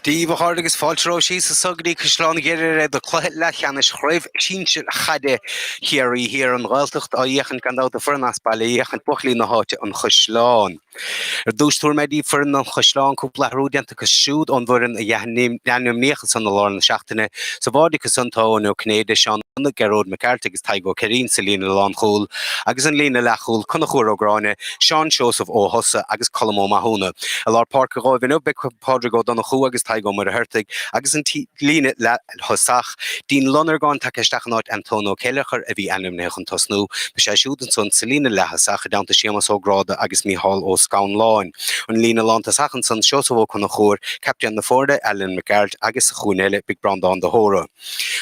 Díobh a chairde agus fáilte romhaibh síos anso go dtí Caisleán Ghriaire do cluiche leathcheannais Chraobh Shinsir Chaide Chiarraí Thiar an Ghaeltacht á fhéachaint gan dabht an fhoireann as baile á fhéachaint buachaillí na háite, an Chaisleán. Ar dtús tabharfaidh mé daoibh foireann an Chaisleáin cúpla athrú déanta acu siúd ón bhfoireann a dh'ainmníodh ansan i lár na seachtaine. Sa bháide acu san tá Eoin Ó Cinnéide, Seán Donagh, Gearóid Mac Gearailt agus Tadhg Ó Ceirín sa líne lánchúil agus an líne leathchúil, Conchubhar Ó Gráinne, Seán Seosamh Ó hOsa agus Colm Ó Mathúna. I lár páirce dhóibh inniu beidh Pádraig Ó Donnchú agus Tadhg Ó Muircheartaigh agus an líne leath. thosach. Dean Lonargáin tagtha isteach in áit Antón Ó Céilleachair a bhí ainmnithe chun tosnú. Beidh sé siúd ansan sa líne leaththosach i dteannta Séamas Ó Gráda agus Mícheál Ó Scanláin. An líne lántosach ansan Seosamh Ó Conchúir, captaen na foirne, Alan Mac Gearailt agus sa chúinne eile beidh Breandán de hÓra.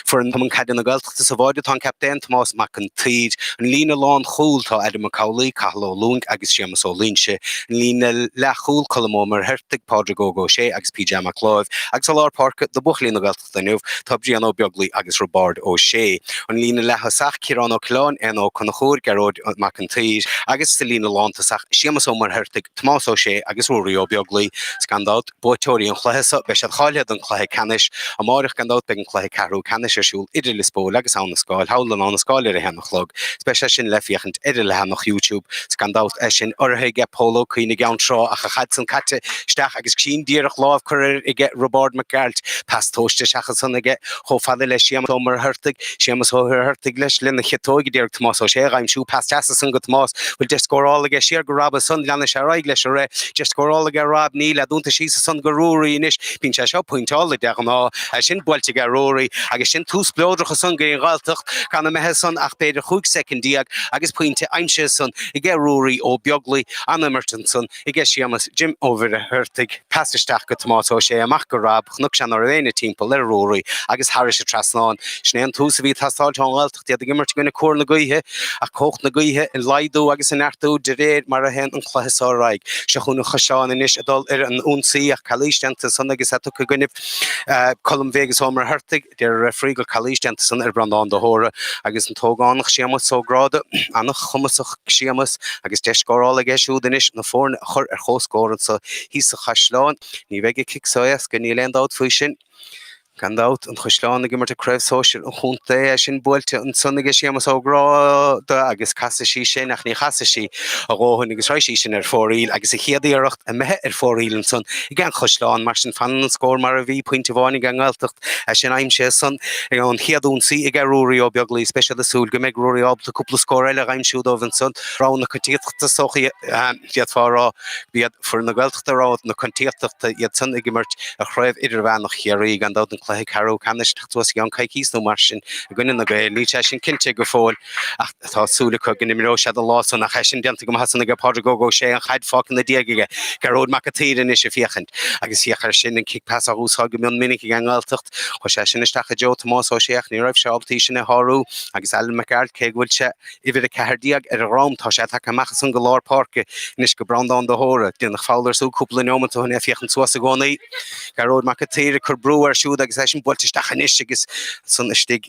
Foireann Chumann Caide na Gaeltachta sa bháide tá an captaen Tomás Mac an tSaoir. An líne lánchúl tá Adam Mac Amhlaoibh, Cathal Ó Lúing agus Séamas Ó Loingsigh. líne leathchúil, Colm Ó Muircheartaigh, Pádraig Óg Ó Sé agus PJ Mac Láimh, agus i lár páirce do bhuachaillí na Gaeltachta inniu tá Brian Ó Beaglaoi agus Roibeárd Ó Sé. An líne leath-thosach, Ciarán Ó Coileáin, Éanna Ó Conchúir, Gearóid Mac an tSaoir, agus sa líne lántosach, Séamus Ó Muircheartaigh, Tomás Ó Sé agus Ruairí Ó Beaglaoi. Gan dabht, buaiteoirí an chluiche seo, beidh siad cáilithe don chluiche ceannais. Amáireach, gan dabht, beidh an cluiche ceathrú ceannais ar siúl idir Lios Póil agus Abha na Scáil, thall in Abha na Scáil ar a haon a chlog, 's beidh sé sin le féachaint ar a leathanach Youtube, 's gan dabht é sin urraithe aige Pól Ó Cuinn i gCeann Trá ach an chaid san caite isteach agus sin díreach lámh curtha air aige Roibeárd Mac Gearailt, pas tomhaiste isteach ansan aige chomh fada le Séamas Ó Muircheartaigh. Séamus Ó Muircheartaigh leis lena chiotóg, a d'iarraidh Tomás Ó Sé, a dh'aimsiú pas deas ansan go Tomás. Bhfuil deis scórála aige siar go Rob ansan, leanfaidh sé ar aghaidh leis arís. Deis scórála aige Rob, níl, é dúnta síos ansan go Ruairí anois. Bíonn sé seo pointeáilte, de ghnáth. É sin buailte aige Ruairí, agus sin tús spleodrach ansan go dtí an Ghaeltacht, gan imithe ansan ach b'fhéidir chúig soicind déag, agus pointe aimsithe ansan aige Ruairí Ó Beaglaoi, an-imirt ansan. aige Séamas Jim Ó Muircheartaigh, pas isteach go Tomás Ó Sé, amach go Rob, chonaic sé ná raibh éinne timpeall ar Ruairí, agus thairis an trasnán. Sin é an tús a bhí ag teastáilt ón nGaeltacht, iad ag imirt i gcoinne cóir na gaoithe, ach cumhacht na gaoithe ag laghdú agus ag neartú de réir mar a théann an cluiche so ar aghaidh. Seo chugainn an Chaisleán anois ag dul ar an ionsaí, ach calaois déanta ansan agus é tugtha i gcoinnibh Colm Bheag Ó Muircheartaigh. Deir an referee gur calaois déanta ansan ar Bhreandán de hÓra agus an t-ógánach Séamas Ó Gráda, an-chumasach Séamas, agus deis scórála aige siúd anois na foirne a chur ar chomhscór anso thíos sa Chaisleán. Ní bheidh an chic so éasca, níl aon dabht faoi sin. Gan dabht, an Chaisleán ag imirt i Craobh Shóisir an Chontae, é sin buailte ansan aige Séamas Ó Gráda agus casfaidh sí sin, ach ní chasfaidh sí a dhóthain agus raghaidh sí sin ar fóraoil agus an chéad iarracht imithe ar fóraoil ansan aige an Chaisleán. Mar sin, fanann an scór mar a bhí, pointe amháin aige an Ghaeltacht. Is é sin aimsithe ansan an chéad ionsaí aige Ruairí Ó Beaglaoí, speisialta súil go mbeidh Ruairí ábalta cúpla scór eile a aimsiú dóibh ansan. Rogha na coitiantachta is dócha d'fhéadfá a rá gurb iad foireann na Gaeltachta rogha na coitiantachta, iad san ag imirt i gCraobh Idirmheánach Chiarraí, gan dabht an cluiche ceathrú ceannais ag teacht suas i gceann coicís nó mar sin i gcoinne na Gaeil, níl sé sin cinnte go fóill. Ach tá súil acu go n-imreoidh sé do lá san ach í sin déanta go maith san aige Pádraig Óg Ó Sé an chaid fáiscthe ina dhóid aige Gearóid Mac a tSaoir anois a féachaint agus thiocfadh air sin an cic pas á úsáid go mion minic ag an nGaeltacht. Chuir sé sin isteach i dtreo Tomás Ó Sé ach ní raibh sé ábalta í sin a shárú agus Alan McArdle cé go bhfuil sé uimhir a ceathair déag ar a dhroim tá sé ag tacú amach as an lár páirce anois go Breandán de hÓra. Déanadh feall air siúd cúpla neomat ó shin é a féachaint suas i gcónaí. Gearóid Mac a tSaoir ag cur brú air siúd agus í sin buailte isteach anois agus san istigh.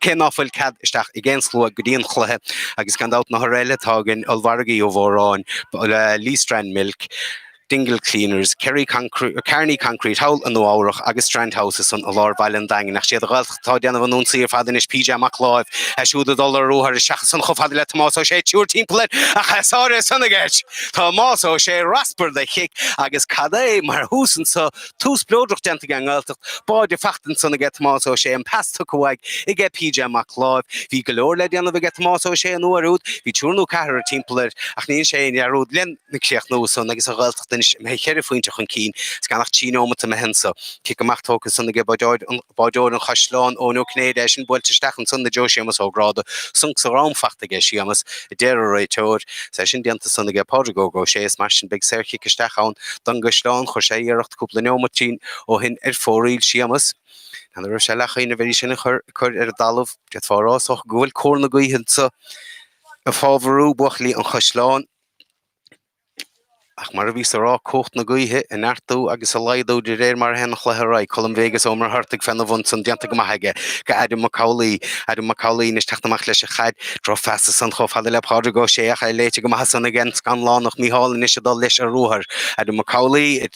Cé ná fuil cead isteach ag aon slua go dtí an chluiche, agus gan dabht na hurraithe eile atá againn, Ollmhargadh Uí Mhóráin, Lee Strand Milk, Dingle Cleaners, Kearney Concrete, thall i Nua Eabhrach, agus Strand House san i lár bhaile an Daingin, ach 'siad an Ghaeltacht atá ag déanamh an ionsaí ar fad anois, PJ Mac Láimh, é siúd ag dul ar ruathar isteach san chomh fada le Tomás Ó Sé, triúr timpeall air, ach tá sáraithe san ag Tomás Ó Sé, raspar de chic, agus cad é mar thús anseo Tús spleodrach déanta aige an nGaeltacht, báide faighte ansan aige Tomás Ó Sé, an pas tugtha uaidh aige PJ Mac Láimh. Bhí go leor le déanamh aige Tomás Ó Sé an uair úd, bhí triúr nó ceathrar timpeall air, ach ní dhéanann sé aon dearúd lena chríochnú ansan agus an Ghaeltacht anois imithe cheithre phointe chun cinn is gan ach trí neomanta imithe anso. Cic amach tógtha ansan aige báideoir an Chaisleáin, Eoin Ó Cinnéide, í sin buailte isteach ansan i dtreo Séamus Ó Gráda. Sonc sa drom faighte aige Séamus, a deir an réiteoir. Is é sin déanta san aige Pádraig Óg Ó Sé is mar sin beidh saorchic isteach ann don gcaisleán. Chuir sé iarracht cúpla neomaitín ó shin ar fóraoil Séamus. Ní raibh sé leathchinniúil ar í sin a chur ar an dtalamh. D'fhéadfá a rá is dócha go bhfuil cóir na gaoithe anso ag fábharú buachaillí an chaisleáin. Ach mar a bhíos a rá, cumhacht na gaoithe a neartú agus a laghdú de réir mar a théann an cluiche ar aghaidh. Colm Bheaigs Ó Muircheartaigh féna bun san déanta go maith aige go Adam Mac Amhlaí. Adam Mac Amhlaí anois teacht amach leis a chaid. Drochphas ansan chomh fada le Pádraig Ó Sé ach é léite go maith san ag An Scanlánach. Micheál anois ag dul leis ar ruathar. Adam Mac Amhlaí.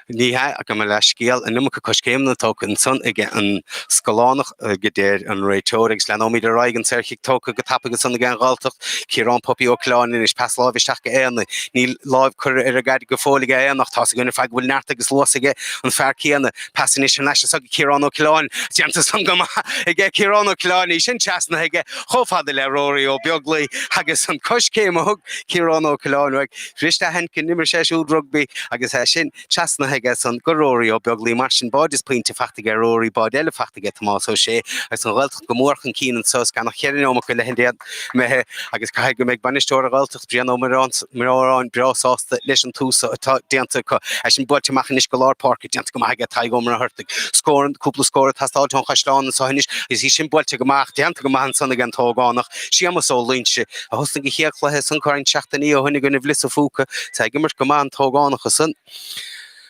Ní hea, gabh mo leithscéal. An iomarca coiscéimeanna tógtha ansan ag an Scanlánach, a deir an réiteoir, agus leanóimid ar aghaidh, an saorchic tógtha go tapaidh ansan ag an nGaeltacht, Ciarán 'Puppy' Ó Coileáin anois, pas láimhe isteach go Éanna, níl láimh curtha ar a ghaire go fóill ag Éanna, ach tá's againn ar fad go bhfuil neart agus luas aige, an fear céanna, pas anois thar n-ais ansan go Ciarán Ó Coileáin, déanta san go maith aige Ciarán Ó Coileáin, í sin trasnaithe aige chomh fada le Rory Ó Beaglaoi, agus an coiscéim a thug Ciarán Ó Coileáin uaidh, Fuirist aithint go n-imir sé siúd rugbaí agus é sin trasnaithe aige san go Ruairí Ó Beaglaoi. Mar sin, báide is pointe faighte aige Ruairí, báide eile faighte aige Tomás Ó Sé agus an Ghaeltacht go mór chun cinn anseo. Is gan ach ceithre neomat go leith den am imithe agus caithfidh go mbeidh bainisteoir an Ghaeltacht, Brian Ó Móráin breá sásta leis an tús atá déanta acu. É sin buailte amach anois go lár páirce, déanta go maith aige Tadhg Ó Muircheartaigh. Scór, cúpla scór ag teastáilt ón Chaisleán anseo anois agus í sin buailte amach, déanta go maith ansan ag an t-ógánach, Séamas Ó Loingsigh. a thosnaigh a chéad chluiche san corn seachtainí ó shoin i gcoinne Lios an Phúca. Tá ag imirt go maith an t-ógánach ansan.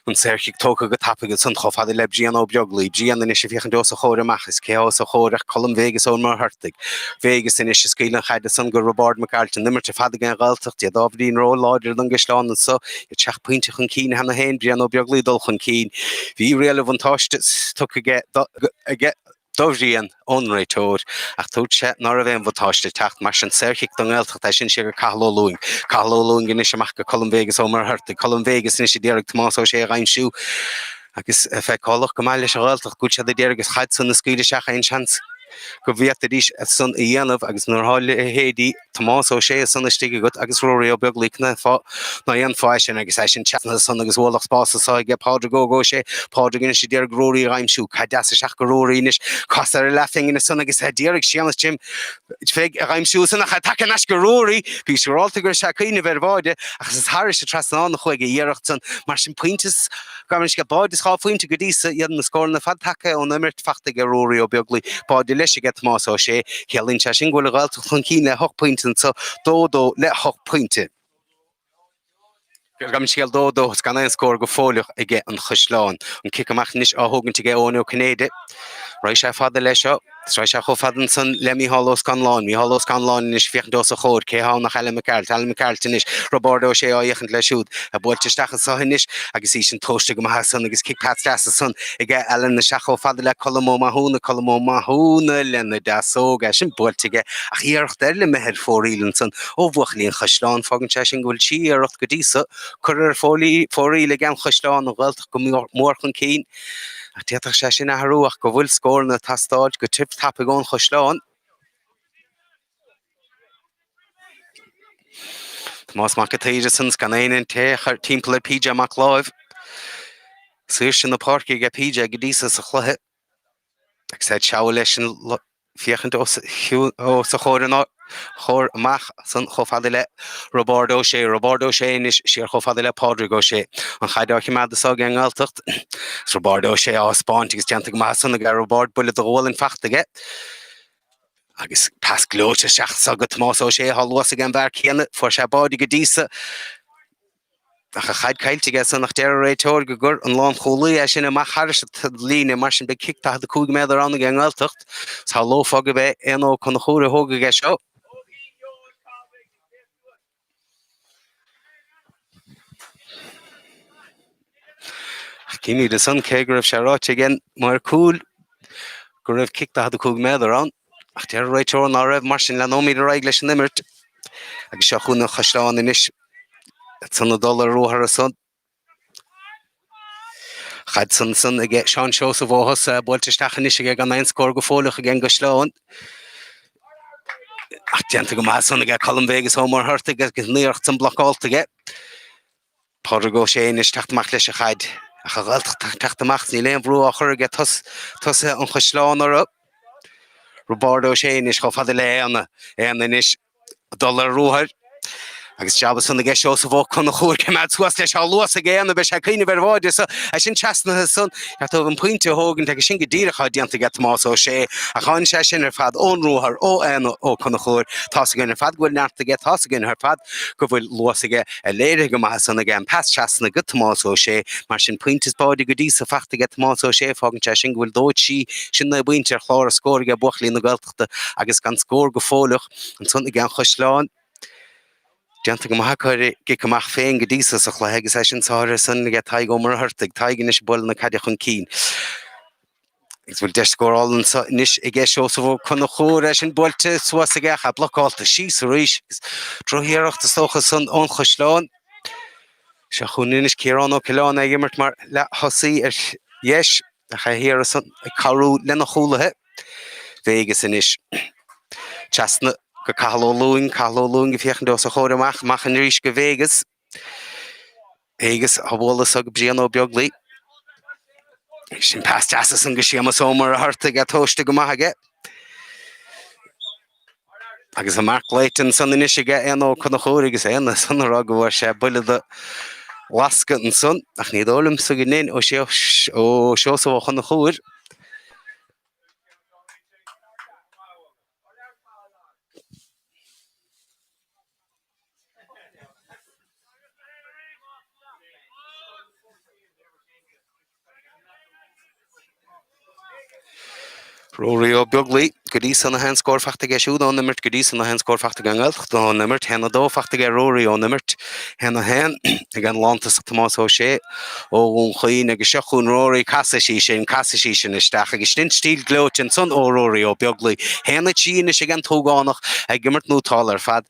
An saorchic tógtha go tapaidh ansan chomh fada le Brian Ó Beaglaoi. Brian anois ag féachaint os a chomhair amach. Is cé os a chomhair ach Colm Vegas Ó Muircheartaigh. Vegas anois a scaoil an chaid ansan go Roibeárd Mac Gearailt. An imirt ar fad ag an Ghaeltacht, iad ábhairín ró láidir don gCaisleán anso, iad seacht bpointe chun cinn cheana féin. Brian Ó Beaglaoi ag dul chun cinn. Bhí riail a bhuntáiste tugtha aige do. do Bhrian ón réiteoir, ach dúirt sé ná raibh aon bhuntáiste ag teacht mar sin. Saorchic don nGaeltacht é sin, siar go Cathal Ó Lúing, Cathal Ó Lúing anois amach go Colm Vegas Ó Muircheartaigh, Colm Vegas anois a d'iarraidh Tomás Ó Sé a dh'aimsiú agus feiceálach go maith leis an Ghaeltacht go bhfuil siad a d'iarraidh an chaid san a scaoileadh isteach aon seans go bhféadfaidís san a dhéanamh agus nuair atá leithéidí Tomás Ó Sé ansan istigh agat agus Ruairí Ó Beaglaoi cén fáth ná déanfá sin agus é sin trasna ansan agus ualach spáis anso aige Pádraig Óg Ó Sé Pádraig anois a d'iarraidh Ruairí a dh'aimsiú caid dheas isteach go Ruairí anois casadh ar leathphingin ansan agus a d'iarraidh Séamas Jim Pheig a dh'aimsiú ansan ach tá tagtha thar n-ais go Ruairí bhíos siúráilte go raibh sé ag cuimhneamh ar bháide ach is thairis an trasnán a chuaigh an iarracht san mar sin pointe is Gabh mo leithscéal, báide is dhá phointe go dtí so, iad na scóranna ar fad tagtha ón imirt faighte aige Ruairí Ó Beaglaoi, báide leis aige Tomás Ó Sé. Ciallaíonn sé sin go bhfuil an Ghaeltacht chun cinn le hocht bpointe anseo, dó dó le hocht bpointe. Gabh mo leithscéal, dó dó is gan aon scór go fóilleach aige an Chaisleán. An cic amach anois á thógaint aige Eoin Ó Cinnéide. Raghaidh sé fada leis seo. Shrois sé chomh fada ansan le Mícheál Ó Scanláin. Mícheál Ó Scanláin anois ag féachaint os a chomhair. Cé tá ann ach Alan Mac Gearailt. Alan Mac Gearailt anois. Roibeárd Ó Sé á fhéachaint leis siúd. É buailte isteach anso anois agus í sin tomhaiste go maith ansan agus cic pas deas ansan ag Alan isteach chomh fada le Colm Ó Mathúna. Colm Ó Mathúna lena deasóg. É sin buailte aige ach iarracht eile imithe ar fóraoil ansan ó bhuachaillí an Chaisleáin. Fágann sé sin go bhfuil trí iarracht go dtí so curtha ar fóraoil ag An Chaisleán, An Ghaeltacht go mór chun cinn. Ach d'fhéadfadh sé sin athrú ach go bhfuil scóranna ag teastáil go tiubh tapaidh ón Chaisleán. Tomás Mac an tSaoir ansan, is gan éinne in aon chor timpeall ar PJ Mac Láimh. Saoirse na páirce aige PJ go dtí so sa chluiche. Ag said seabhal leis an féachaint os a chomhair an áit, chomhair amach san chomh fada le Roibeárd Ó Sé, Roibeárd Ó Sé anois, siar chomh fada le Pádraig Ó Sé, an chaid á chimeád anso aige an nGaeltacht. Is Roibeárd Ó Sé á thaispeáint agus déanta go maith san ag Roibeárd buille de ghualainn fachta aige, agus pas gleoite isteach san go Tomás Ó Sé athá luas aige an bhfear céanna, fuair sé báide go dtí so, Ach an chaid caillte aige san ach deir an réiteoir go gcuir an lánchúlaí é sin amach thairis an líne, mar sin beidh cic 45 méadar ann ag an nGaeltacht. Shamhlófá gurb é Éanna Ó Conchúir a thógfaidh é seo. Címid ansan cé go raibh sé ráite ag an maor cúil go raibh cic 45 méadar ann. Ach deir an réiteoir ná raibh, mar sin, leanaimid ar aghaidh leis an imirt agus seo chugainn an Caisleán anois. Ag san a dhul ar ruathar ansan. Caid ansan ag Seán Seosamh Ó hEosa, buailte isteach anois aige gan aon scór go fóilleach ag an gcaisleán. Ach déanta go maith san aige Colm Vegas Ó Muircheartaigh agus an iarracht san blocálta aige. Pádraig Ó Sé anois teacht amach leis an chaid. Ach an Ghaeltacht ag teacht amach, níl aon bhrú á chur aige tosaithe an Chaisleáin orthu. Roibeárd Ó Sé anois chomh fada le hÉanna, Éanna anois ag dul ar ruathair. Agus jab ansan aige Seosamh Ó Conchúir coimeád suas leis tá luas ag Éanna, beidh sé ag cuimhneamh ar bháide so é sin trasnaithe san, ar taobh an Phointe a thógaint agus sin go díreach atá déanta aige Tomás Ó Sé. Ach tháinig sé sin ar fad ón ruathar ó Éanna Ó Conchúir. Tá's againn ar fad go bhfuil neart aige, tá's againn ar fad go bhfuil luas aige. léirithe go maith ansan aige an pas trasna go Tomás Ó Sé, mar sin, pointe is báide go dtí so fachta aige Tomás Ó Sé, fágann sé sin go bhfuil dó a trí sin naoi bpointe ar chlár na scór aige buachaillí na Gaeltachta agus gan scór go fóilleach ansan aige an Chaisleán. Déanta go maith acu ar a gcic amach féin go dtí so sa chluiche agus é sin saothraithe ansan aige Tadhg Ó Muircheartaigh, Tadhg anois ag bualadh na caide chun cinn. Agus bhfuil deis scórála anseo anois aige Seosamh Ó Conchúir, é sin buailte suas aige ach é blocálta síos arís. Drochiarracht is dócha san ón Chaisleán. Seo chugainn anois Ciarán Ó Coileáin ag imirt mar leath-thosaí ar dheis ach é thiar ansan ag cabhrú lena chúlaithe. Vegas anois. Trasna go Cathal Ó Lúing, Cathal Ó Lúing ag féachaint os a chomhair amach, amach arís go Vegas. Vegas á bhualadh suas go Brian Ó Beaglaoich. Agus sin pas deas ansan go Séamus Ó Muircheartaigh tógtha go maith aige. Agus an marc glaoite ansan anois aige Éanna Ó Conchúir agus Éanna ansan á rá go bhfuair sé buille de lasc ansan ach ní dóigh liomsa go ndein ó Seosamh Ó Conchúir Ruairí Ó Beaglaoi, Go dtí so na haon scór fachta aige siúd ón imirt go dtí so na haon scór fachta aige an nGaeltacht ón imirt, a haon a dó fachta aige Ruairí ón imirt, a haon a haon ag an lántosach Tomás Ó Sé ó Dhún Chaoin agus seo chugainn Ruairí casfaidh sí sin, casfaidh sí sin isteach agus sin stíl gleoite ansan ó Ruairí Ó Beaglaoi, a haon a trí anois aige an t-ógánach ag imirt nótálta ar fad.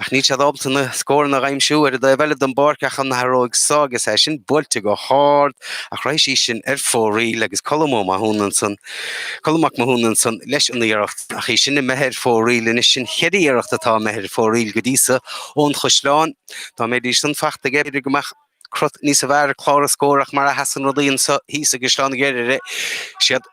Ach níl siad ábalta na scóranna a aimsiú ar an taobh eile den bpáirc ach an athróidh so agus é sin buailte go hard ach raghaidh sí sin ar fóraoil agus Colm Ó Mathúna ansan, Colm Mac Mathúna ansan leis an iarracht ach í sin imithe ar fóraoil anois. Sin cheithre iarracht atá imithe ar fóraoil go dtí so ón Chaisleán. Dá mbeidís san fachta aige, b'fhéidir go mbeadh Cruth níos fearr ar chlár na scór ach mar a sheasann rudaí anseo thíos i gCaisleán Ghriaire, is iad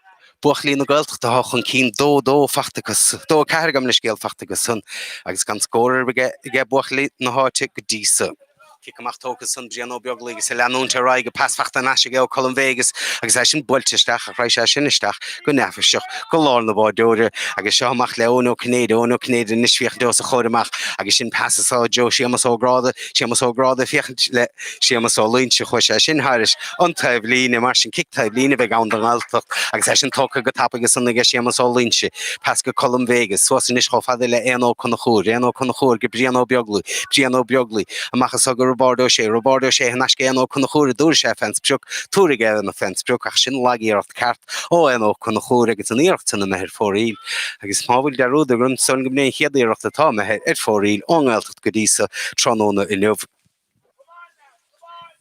buachaillí na Gaeltachta atá chun cinn, dó, dó, fachta acu, dó, ceathair, gabh mo leithscéal, fachta acusan agus gan scór ar bith aige buachaillí na háite go dtí so. Cic amach tógtha san, Brian Ó Beaglaoich is ag leanúint ar aghaidh agus pas fachta thar n-ais aige ó Colm Vegas agus é sin buailte isteach ach raghaidh sé sin isteach go neafaiseach go lár na báideoire agus seo amach le Eoin Ó Cinnéide, Eoin Ó Cinnéide anois féachaint os a chomhair amach agus sin pas suas i dtreo Séamas Ó Gráda. Séamas Ó Gráda, féachaint le Séamas Ó Loinsigh, chuaigh sé sin thairis, an taobhlíne, mar sin cic taobhlíne a bheidh ann don nGaeltacht agus é sin tógtha go tapaidh ansan aige Séamas Ó Loinsigh, pas go Colm Vegas, suas anois chomh fada le Éanna Ó Conchúir, Éanna Ó Conchúir go Brian Ó Beaglaoi, Brian Ó Beaglaoi, amach anseo go Roibeárd Ó Sé, Roibeárd Ó Sé thar n-ais go Éanna Ó Conchúir a dtabharfaidh sé fe'n sprioc, tabharfaidh Éanna fe'n sprioc ach sin lag iarracht ceart ó Éanna Ó Conchúir agus an iarracht sin imithe ar fóraoil agus mara bhfuil dearúd orainn, is dóigh liom gurb é an chéad iarracht atá imithe ar fóraoil ón nGaeltacht. teacht go dtí so tráthnóna inniu.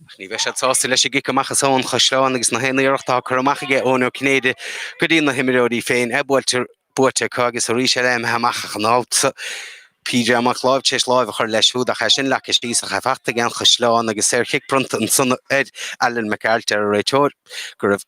Ach ní bheidh siad sásta leis an gcic amach san ón Chaisleán agus na haon iarracht atá curtha amach aige Eoin Ó Cinnéide go dtí na himreoirí féin a' buailte buaite acu agus arís eile imithe amach ach an babhta so PJ Mac Láimh tar éis láimh a chur leis siúd ach é sin leagtha síos ach é fachta aige an gCaisleán agus saor chic bronnta ansan ar Alan Mac Gearailt, deir an réiteoir go raibh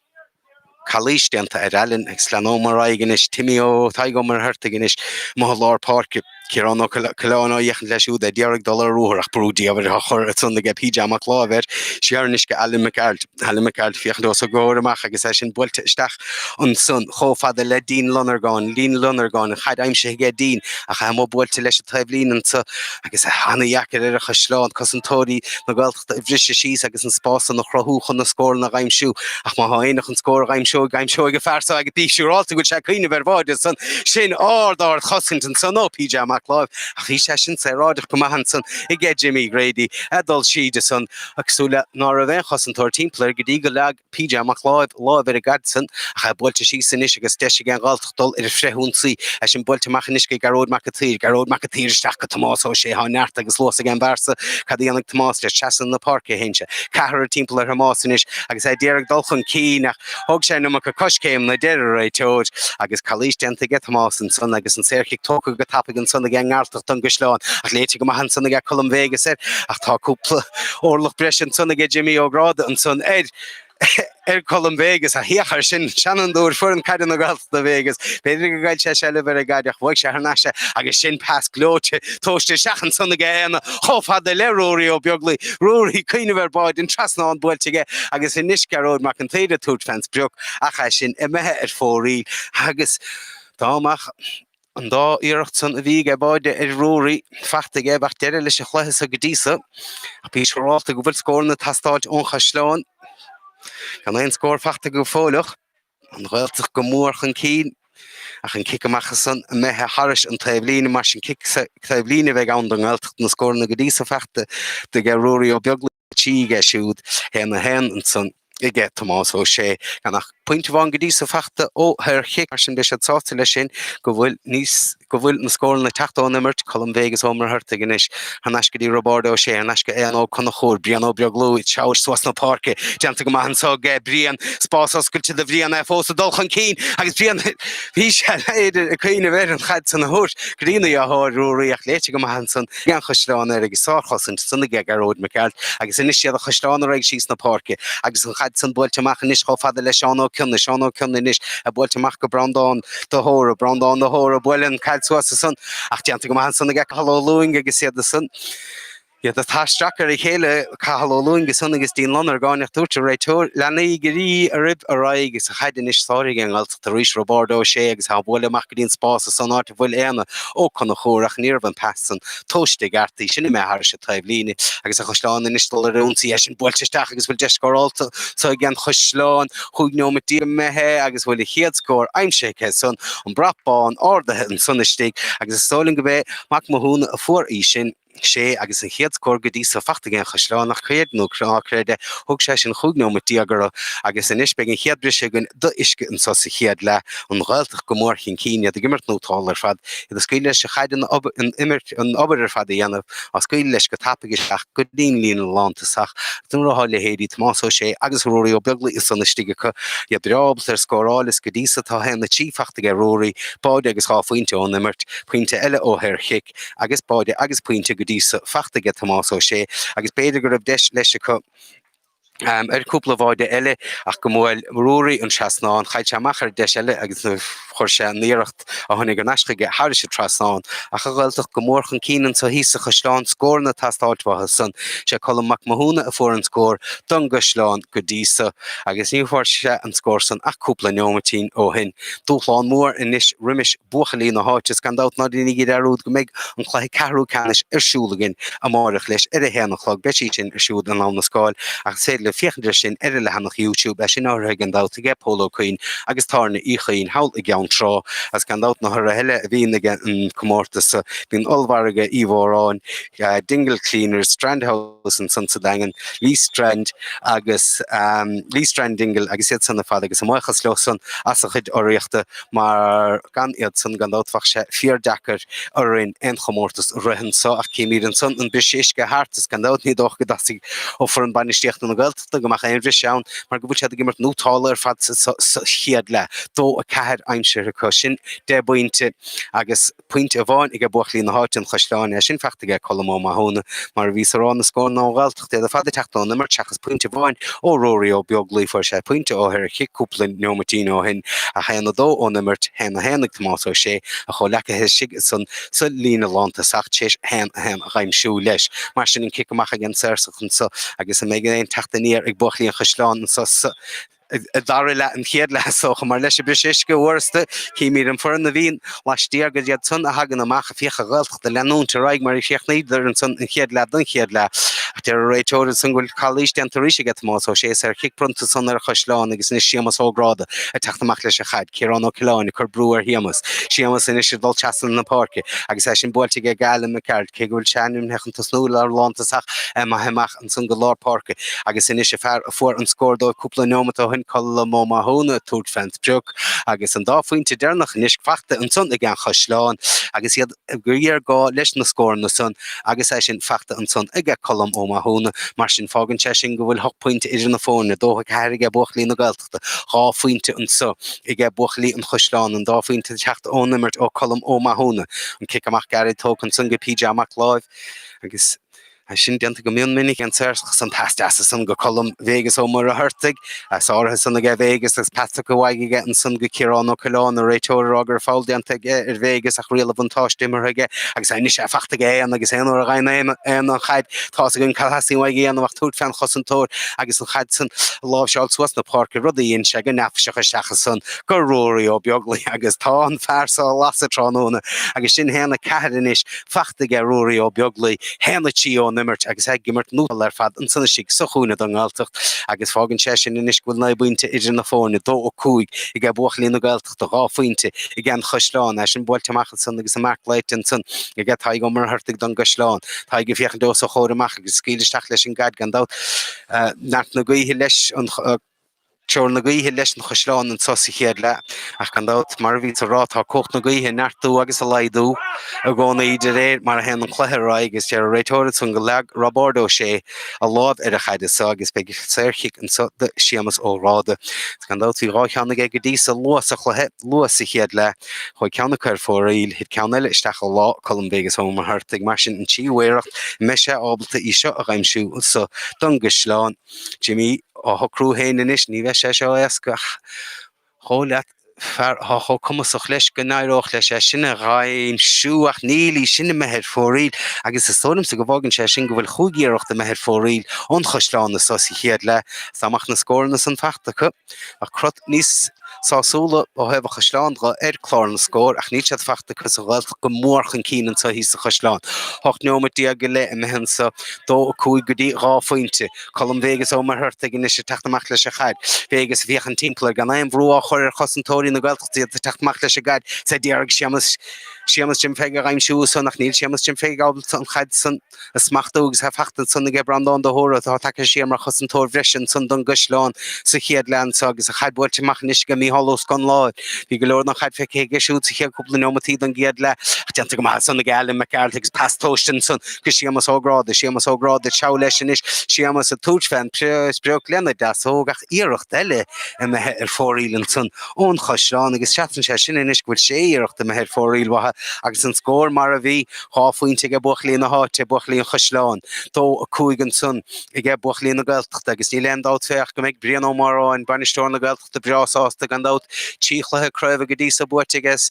Calaois déanta ar Alan agus leanúint ar aghaidh anois, Timmy Ó Tadhg Ó Muircheartaigh anois amuigh i lár páirce, Ciarán Ó Coileáin ag féachaint leis siúd d'iarraidh dul ar ruathar ach brú diamhair á chur ansan aige PJ Mac Láimh siar anois go Alan Mac Gearailt, Alan Mac Gearailt féachaint os a gcomhair amach agus é sin buailte isteach ansan chomh fada le Dean Lonergan, Dean Lonergan, an chaid aimsithe aige Dean ach é amuigh buailte leis an taobhlíne anseo. agus é an-deacair ar an Chaisleán, cosantóirí na Gaeltachta a bhriseadh síos agus na spásanna a chruthú chun na scóranna a aimsiú. Ach má tá éinne chun scór a aimsiú, aimseoidh an fear so agus bí siúráilte go bhfuil sé ag cuimhneamh ar bháide ansan. Sin ard ard chosaint ansan ó PJ Mac Láimh, ach bhí sé sin saoráideach go maith ansan aige Jimmy Grady ag dul síd ansan ag súil leis ná raibh aon chosantóir timpeall air go dtí go leag PJ Mac Láimh ar an gcaid san, ach é buailte síos anois agus deis ag an Ghaeltacht dul ar frithionsaí, é sin buailte amach anois go Gearóid Mac an tSaoir. Gearóid Mac an tSaoir isteach go Tomás Ó Sé, tá neart agus luas ag an bhfear so, cad a dhéanfaidh Tomás leis? Seasann ina páirc é féin. Sé ceathrar timpeall ar Thomás anois agus é ag iarraidh dul chun cinn, ach thóg sé an iomarca coiscéimeanna deir an réiteoir agus calaois déanta aige Tomás ansan agus an saorchic tógtha go tapaidh ansan ag an nGearaltach don gCaisleán, ach léite go maith ansan ag Colm Vegas air, ach tá cúpla. Orlach breise ansan aige Jimí Ó Gráda ansan ar ar Colm Vegas a thiocfadh ar sin seanfhondúir foireann caide na Gaeltachta Vegas. B'fhéidir go gcaillfeadh sé seilbh ar an gcaid ach bhuaigh sé thar n-ais é agus sin pas gleoite tomhaiste isteach ansan aige Éanna chomh fada le Ruairí Ó Beaglaoi. Ruairí ag cuimhneamh ar báide, an trasnán buailte aige agus anois Gearóid Mac an tSaoir ag tabhairt fén sprioc ach é sin imithe ar fóraoil agus dá mbeadh An dá iarracht san a bhí aige báide ag Ruairí fachta aige bheadh deireadh leis an chluiche so go dtí so. Ach bí siúrálta go bhfuil scóranna ag teastáilt ón Chaisleán. Gan aon scór fachta acu fóilleach, An Ghaeltacht go mór chun cinn. Ach an cic amach san imithe thairis an taobhlíne mar sin cic taobhlíne a bheidh ann don nGaeltacht, na scóranna go dtí so fachta aige Ruairí Ó Beaglaoich. Sea, aige siúd féin a haon ansan, aige Tomás Ó Sé, gan ach pointe amháin go dtí so fachta ó shaorchic, mar sin beidh siad sásta leis sin go bhfuil níos, go bhfuil na scóranna ag teacht ón imirt, Colm Vegas Ó Muircheartaigh anois, thar n-ais go dtí Roibeárd Ó Sé, thar n-ais go Éanna Ó Conchúir, Brian Ó Beaglaoi, ag teacht suas na páirce, déanta go maith anso aige Brian, spás oscailte do Bhrian é fós ag dul chun cinn agus Brian, bhí sé ag cuimhneamh ar an chaid san a thabhairt go dtína dheartháir Ruairí, ach léite go maith ansan. an Chaisleán air agus sárchosaint san aige, Gearóid Mac Gearailt, agus anois iad an Chaisleán ar aghaidh síos na páirce agus an chaid san buailte amach anois chomh fada le Seán Ó Cionnaith, Seán Ó Cionnaith anois é buailte amach go Breandán de hÓra, Breandán de hÓra, buaileadh an chaid suas ansan ach déanta go maith ansan ag Cathal Ó Lúing agus iad ansan, iad atá isteach ar a chéile, Cathal Ó Lúing ansan agus Dean Lonergáin ach dúirt an réiteoir, leanaigí oraibh ar aghaidh agus an chaid anois sáraigh an. tar éis Roibeárd Ó Sé agus é á bhualadh amach go dtí an spás san áit a bhfuil Éanna Ó Conchúir, ach níorbh an pas san tomhaiste i gceart, í sin imithe thairis a' taobhlíne agus an Chaisleán anois ag dul ar ionsaí é sin buailte isteach agus bhfuil deis scórálta anso aige an Chaisleán chúig neomat déag imithe agus bhfuil a chéad scór aimsithe acu san, an brat bán árdaithe ansan istigh agus is dóigh liom go b'é Mac Mathúna a fuair í sin. sé agus an chéad scór go dtí so fachta aige an Chaisleán ach creid é nó ná creid é thóg sé sin chúig neomat déag orthu agus anois beidh an chéad briseadh againn d'uisce anseo sa chéad leath, an Ghaeltacht go mór chun cinn, iad ag imirt nótálta ar fad, iad ag scaoileadh leis an chaid an obair an imirt an obair ar fad a dhéanamh á scaoileadh leis go tapaidh isteach go dtí'n líne lántosach agus nuair atá leithéidí Tomás Ó Sé agus Ruairí Ó Beaglaoich ansan istigh acu, iad breá ábalta ar scóráil is go dtí so tá a haon a trí fachta aige Ruairí, báide agus dhá phointe ón imirt, pointe eile ó shaor chic. Mhic agus báide agus pointe go dtí so fachta aige Tomás Ó Sé agus b'fhéidir go raibh deis leis acu ar chúpla bháide eile ach go mbuail Ruairí an trasnán, chaill sé amach ar deis eile agus chuir sé an iarracht a tháinig ar ais chuige thairis an trasnán ach an Ghaeltacht go mór chun cinn anseo thíos sa Chaisleán scóranna ag teastáil uathu san. Sé Colm Mac Mathúna a fuair an scór don gCaisleán go dtí so agus ní bhfuair sé an scór san ach cúpla neomaitín ó shin. Dúshlán mór anois roimis. buachaillí na háite is gan dabht ná deinigí dearúd go mbeidh an cluiche ceathrú ceannais ar siúl againn amáireach leis ar a haon a chlog, beidh sí sin ar siúl in Abha na Scáil ach is féidir libh féachaint air sin ar an leathanach YouTube é sin urraithe gan dabht aige Pól Ó Cuinn agus Tábhairne Uí Chuinn thall i gCeann Trá agus gan dabht na hurraithe eile a bhíonn ag an comórtas bíonn Ollmhargadh Uí Mhóráin, Dingle Cleaners, Strand House. agus ansan sa Daingean, Lee Strand agus Lee Strand Dingle agus iad san ar fad agus ár mbuíochas leo san as a gcuid urraíochta mar gan iad san gan dabht bheadh sé fíor deacair orainn aon chomórtas a rith anso ach címid ansan an briseadh uisce thart is gan dabht ní dócha go dteastaigh ó fhoireann bainistíochta na Gaeltachta go mbeadh aon bhris ann mar go bhfuil siad ag imirt nótálta ar fad sa chéad leath, dó a ceathair aimsithe acu, sin deich bpointe agus. pointe amháin aige buachaillí na háite an Chaisleáin é sin fachta aige Colm Ó Mathúna mar a bhíos a rá na scóranna ón nGaeltacht iad ar fad ag teacht ón imirt seachas pointe amháin ó Ruairí Ó Beaglaoi fuair sé pointe ó shaorchic cúpla neomaitín ó shin ach 1-2 ón imirt 1-1 ag Tomás Ó Sé a chomhleacaí istigh ansan sa líne lántosach tar éis 1-1 a dh'aimsiú leis mar sin an cic amach aige an Saorach anso agus an mbeidh aon teacht aniar ag buachaillí an Chaisleáin anseo sa ag dara leath an chéad leath so chomh maith leis an briseadh uisce uaireasta, címid an fhoireann a bhíonn laistiar gur iad san a thagann amach féachfaidh an Ghaeltacht leanúint ar aghaidh mar a chríochnaíodar ansan an chéad leath don chéad leath. Ach deir an réiteoir ansan go bhfuil calaois déanta arís aige Tomás Ó Sé saorchic bronnta ansan ar an Chaisleán agus anois Séamas Ó Gráda ag teacht amach leis an chaid, Ciarán Ó Coileáin ag cur brú ar Shéamas, Séamas anois ag dul trasna na páirce agus í sin buailte aige go Alan Mac Gearailt cé go bhfuil sé ainmnithe chun tosnú mar lántosach imithe amach ansan go lár páirce agus anois an fear a fuair an scór dóibh cúpla neomat ó shoin Colm Ó Mathúna ag tabhairt fe'n sprioc agus an dá phoinnte deireannach anois fachta ansan ag An Chaisleán agus géarghá leis na scóranna san agus é sin fachta ansan aige Colm Ó Mathúna. Mar sin fágann sé sin go bhfuil hocht poinnte idir na fóirne, dó a ceathair aige buachaillí na Gaeltachta, dhá phoinnte anso aige buachaillí an Chaisleáin, an dá phoinnte ag teacht ón imirt ó Colm Ó Mathúna, an cic amach gairid tógtha ansan go PJ Mac Láimh agus. Tá sin déanta go mion minic an Saorach san, pas deas ansan go Colm Vegas Ó Muircheartaigh, as áirithe san aige Vegas agus pas tugtha uaidh aige ansan go Ciarán Ó Coileáin, an réiteoir a rá go raibh feall déanta aige ar Vegas ach riail an bhuntáiste imeartha aige agus tá anois é fachta aige Éanna agus aon uair a dh'fhaghann Éanna an chaid tá's againn cad a theastaíonn uaidh a dhéanamh ach tabhairt fe'n chosantóir agus an chaid san a láimhseáil suas 'na páirce, rud a dhein sé go neafaiseach isteach ansan go Ruairí Ó Beaglaoich agus tá an fear so ar lasadh tráthnóna agus sin a haon a ceathair anois. fachta aige Ruairí Ó Beaglaoich haon a trí ón imirt agus ag imirt nótálta ar fad ansan istigh sa chúinne don nGaeltacht agus fágann sé sin anois go bhfuil naoi bpointe idir na foirne, 2-5 aige buachaillí na Gaeltachta, dhá phointe aige an Chaisleán. É sin buailte amach ansan agus an marc glaoite ansan aige Tadhg Ó Muircheartaigh don gCaisleán. Tadhg ag féachaint os a chomhair amach agus ag scaoileadh isteach leis an gcaid gan dabht. Neart na gaoithe leis an. Treoir na gaoithe leis an chaisleán anseo sa chéad leath ach gan dabht, mar a bhíos á rá, tá cumhacht na gaoithe ag neartú agus ag laghdú i gcónaí de réir mar a théann an cluiche ar aghaidh agus deir an réiteoir ansan gur leag Roibeárd Ó Sé a lámh ar an chaid ansan agus beidh saorchic anseo do Séamas Ó Gráda. Gan dabht bhí dhá cheann aige go dtí so luath sa chluiche, luath sa chéad leath, chuaigh ceann acu ar fóraoil, thit ceann eile isteach i lámha Colm Vegas Ó Muircheartaigh mar sin an tríú iarracht, an mbeidh sé ábalta í seo a dh'aimsiú anseo don gcaisleán? Jimí, á shocrú féin anois, ní bheidh sé seo éasca ach dhóigh leat, fear atá chomh cumasach leis go n-éireodh leis é sin a dhaimhsiú, ach níl, í sin imithe ar fóraoil, agus is dóigh liomsa go bhfágann sé sin go bhfuil chúig iarracht imithe ar fóraoil ón Chaisleán anso sa chéad leath, is dá mbeadh na scóranna san fachta acu. Bheadh crot níos sásúla ó thaobh an chaisleáin de ar chlár na scór ach níl siad fachta acu is an Ghaeltacht go mór chun cinn anseo thíos sa Chaisleán. Hocht neomat déag go leith imithe anseo 2-5 go dtí 2 phointe. Colm Vegas Ó Muircheartaigh anois ag teacht amach leis an chaid. Vegas ag féachaint timpeall air gan aon bhrú á chur ar chosantóirí na Gaeltachta, iad ag teacht amach leis an gcaid is a d'iarraidh Séamus, Séamus Jim Pheig a dh'aimsiú ansan ach níl Séamus Jim Pheig ábalta an chaid san a smachtú agus an chaid ansan aige Breandán de hÓra atá tagtha siar mar chosantóir breise ansan don gCaisleán sa chéad leath anseo agus an chaid buailte amach anois aige Micheál Ó Scanláin. Bhí go leor den chaid feicthe aige siúd sa chéad cúpla neomataí don gcéad leath ach déanta go maith ansan aige Alan Mac Gearailt agus pas tomhaiste ansan go Séamas Ó Gráda. Séamas Ó Gráda ag treabhadh leis anois, Séamas ag tabhairt fé an sprioc lena deasóg ach iarracht eile imithe ar fóraoil ansan ón Chaisleán agus seasann sé sin anois go bhfuil sé iarracht imithe ar fóraoil uathu agus an scór mar a bhí, Dhá phointe aige buachaillí na háite, buachaillí an Chaisleáin. Dó a cúig ansan aige buachaillí na Gaeltachta agus níl aon dabht fé ach go mbeidh Brian Ó Móráin, bainisteoir na Gaeltachta breá sásta gan dabht. Trí chluiche craoibhe go dtí so buaite aige is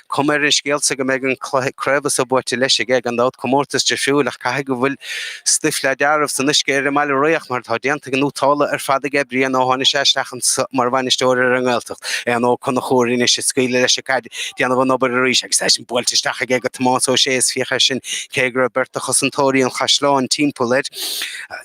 cuma ar an scéal sa go mbeidh an cluiche craoibhe so buaite leis aige gan dabht. Comórtas difriúil ach caithfidh go bhfuil stuif le dealramh san uisce ar an mBaile Riach mar tá déanta go nótálta ar fad aige Brian ó tháinig sé isteach anso mar bhainisteoir ar an nGaeltacht. Éanna Ó Conchúir anois ag scaoileadh leis an. Déanamh an obair arís agus í sin buailte isteach aige go Tomás Ó Sé, is féach air sin cé go raibh beirt de chosantóirí an chaisleáin timpeall air.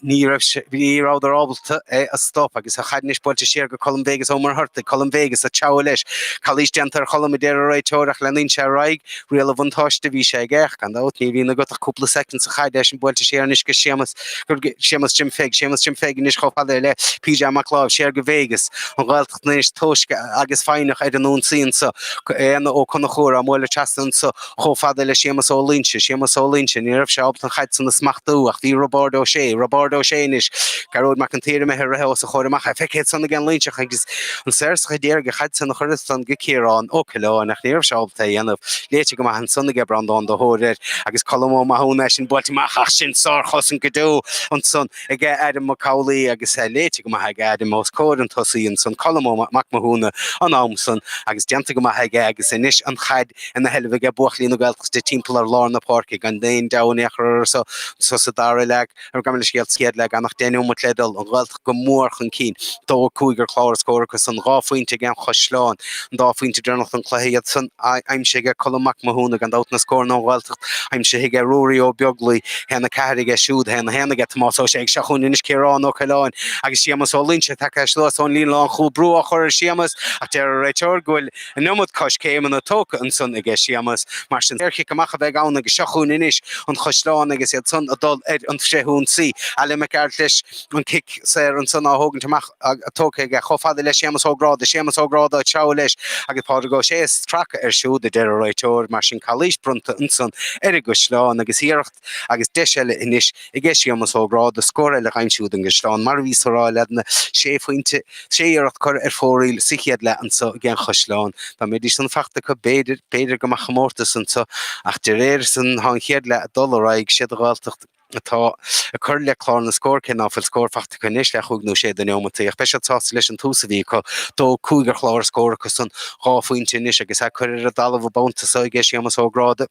Ní raibh sé, ní rabhadar ábalta é a stop agus an chaid anois buailte siar go Colm Vegas Ó Muircheartaigh, Colm Vegas, ag treabhadh leis. Calaois déanta ar Cholm, a deir an réiteoir, ach leanann sé ar aghaidh, riail an bhuntáiste a bhí sé aige. Ach gan dabht, ní bhíonn agat ach cúpla soicind is an chaid ansan buailte siar anois go Séamas, go Séamas Jim Pheig, Séamas Jim Pheig anois chomh fada le P. J. Mac Láimh, siar go Vegas, an Ghaeltacht. riachtanais toisc agus foighneach ar an ionsaí anso, Éanna Ó Conchúir á bualadh trasna anso chomh fada le Séamas Ó Loingsigh, Séamas Ó Loingsigh, ní raibh sé ábalta an chaid san a smachtú ach bhí Roibeárd Ó Sé, Roibeárd Ó Sé anois, Gearóid Mac an tSaoir imithe ag rith os a chomhair amach, é feicthe san ag an Loingseach agus an saorsach a d'iarraidh an chaid san a chur as san go Ciarán Ó Coileáin ach ní raibh sé ábalta é a dhéanamh. Léite go maith ansan aige Breandán de hÓra agus Colm Ó Mathúna é sin buailte amach ach sin sárchosaint go deo ansan. aige Adam Mac Amhlaoibh agus é léite go maith aige Adam os comhair an tosaigh ansan Colm Ó Mac Mathúna an am san agus déanta go maith aige agus anois an chaid ina seilbh aige buachaillí na Gaeltachta timpeall ar lár na páirce gan aon deabhadh in aon chor orthu so sa dara leath gabh mo leithscéal sa chéad leath gan ach deich neomat le dul an Ghaeltacht go mór chun cinn dó a cúig ar chlár na scór acusan dhá phointe ag an Chaisleán An dá phointe deireanach den chluiche, iad san aimsithe aige Colm Mac Mathúna, gan dabht, na scóranna ón Ghaeltacht aimsithe aige Ruairí Ó Beaglaoich, 1-4 aige siúd, 1-1 aige Tomás Ó Sé ach seo chugainn anois Ciarán Ó Coileáin agus Séamas Ó Loingsigh tagtha suas ón líne lánchúil, brú á chur ar Shéamas ach deir an réiteoir go bhfuil an iomad coiscéimeanna tógtha ansan aige Séamas, mar sin saorchic amach a bheidh ann agus seo chugainn anois, an Chaisleán agus iad san ag dul ar an bhfrithionsaí, Alan Mac Gearailt leis an gcic saor ansan á thógaint amach. tugtha aige chomh fada le Séamus Ó Gráda, Séamus Ó Gráda ag treabhadh leis agus Pádraig Ó Sé ag stracadh air siúd, a deir an réiteoir, mar sin calaois bronnta ansan ar an gCaisleán agus iarracht agus deis eile anois aige Séamus Ó Gráda scór eile a aimsiú don gCaisleán, mar a bhíos á rá cheana, sé phointe, sé iarracht curtha ar fóraoil sa chéad leath anso ag an Chaisleán. Dá mbeidís san fachta acu b'fhéidir, b'fhéidir go mbeadh comórtas anso ach de réir san tá an chéad leath ag dul ar aghaidh, is iad an Ghaeltacht, atá ag cur le clár na scór cé ná fuil scór fachta acu anois le cúig nó sé de neomataí, ach beidh siad sásta leis an tús a bhí acu. Dó a cúig ar chlár na scór acusan dhá phointe anois agus é curtha ar an dtalamh an babhta so aige Séamas Ó Gráda.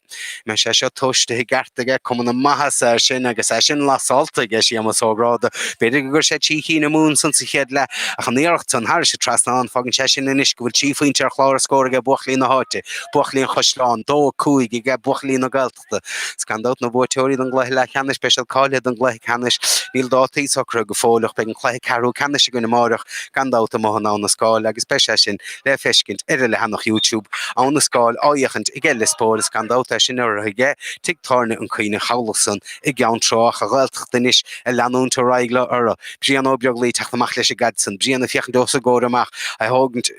Beidh sé seo tomhaiste i gceart aige, cuma na maitheasa air sin agus é sin lasálta aige Séamas Ó Gráda. B'fhéidir go gcuir sé trí chinn amú ansan sa chéad leath, ach an iarracht san thairis an trasnán, fágann sé sin anois go bhfuil trí phointe ar chlár na scór aige buachaillí na háite, buachaillí an Chaisleáin. Dó a cúig aige buachaillí na Gaeltachta. Gaeltachta. Is gan dabht na buaiteoirí den gcluiche leathcheannais, beidh siad cáilithe don gcluiche ceannais. Níl dátaí socraithe go fóill ach beidh an cluiche ceathrú ceannais againn amáireach gan dabht amuigh in Abha na Scáil agus beidh sé sin le feiscint ar an leathanach YouTube. Abha na Scáil á fhéachaint aige Lios Póil is gan dabht é sin urraithe aige tigh tábhairne an Caoineadh Chabhlach san i gCeann Trá ach an Ghaeltacht anois ag leanúint ar aghaidh leo. Brian Ó Beaglaoich ag teacht amach leis an gcaid san. Brian ag féachaint os a chomhair amach, á thógaint.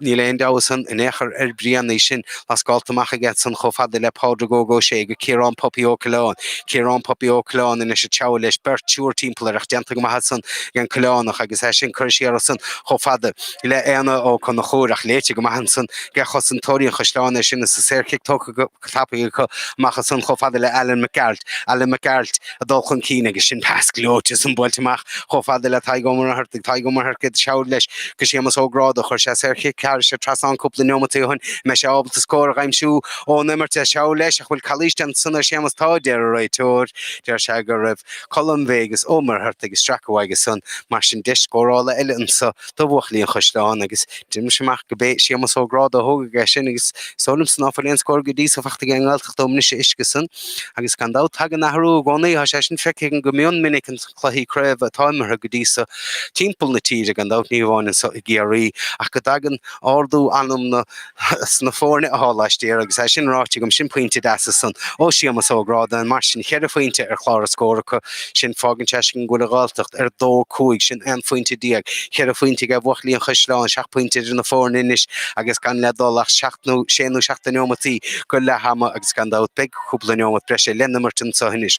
Níl aon deabhadh san in aon chor ar Bhrian, í sin atá scaoilte amach aige san chomh fada le Pádraig Óg Ó Sé, go Ciarán Puppy Ó Coileáin. Ciarán Puppy Ó Coileáin anois ag treabhadh leis beirt triúr timpeall air ach déanta go maith ansan ag an Coileánach agus é sin curtha siar as san chomh fada le Éanna Ó Conchúir ach léite go maith ansan aige cosantóirí an Chaisleáin é sin is an saorchic tógtha go tapaidh acu amach ansan chomh fada le Alan Mac Gearailt, Alan Mac Gearailt ag dul chun cinn agus sin pas gleoite ansan buailte amach chomh fada le Tadhg Ó Muircheartaigh, Tadhg Ó Muircheartaigh isteach leis go Séamus Ó Gráda, chuir sé saorchic thairis an trasnán cúpla neomataí ó shin, an mbeidh sé ábalta scór a aimsiú ón imirt isteach leis ach bhfuil calaois déanta ansan ar Shéamus Tá a deir an réiteoir, deir sé go raibh Colm Bhé agus Ó Muircheartaigh ag stracadh uaidh ansan mar sin deis scórála eile anseo. do bhuachaillí an Chaisleáin agus deinim-se amach go b'é Séamas Ó Gráda a thógfaidh é sin agus is dóigh liom-sa ná fuil aon scór go dtí so fachta aige an nGaeltacht ón mbriseadh uisce san agus gan dabht tagann athrú i gcónaí. Thá sé sin feicthe agam go mion minic ins na cluichí craobha atá imeartha go dtí so timpeall na tíre, gan dabht ní hamháin anso i gCiarraí, ach go dtagann ardú meanman. sna foirne athá laistiar. Agus é sin ráite agam, sin pointe deas san ó Séamas Ó Gráda. Mar sin, cheithre phointe ar chlár na scór acu san. Fágann sé sin go bhfuil an Ghaeltacht ar 2-5, sin aon phointe déag, cheithre phointe ag buachaillí an Chaisleáin, seacht bpointe idir na foirne anois agus gan le dul ach seacht nó sé nó seacht de neomataí go leath ama agus gan dabht beidh cúpla neomat breise le n-imirt anseo anois.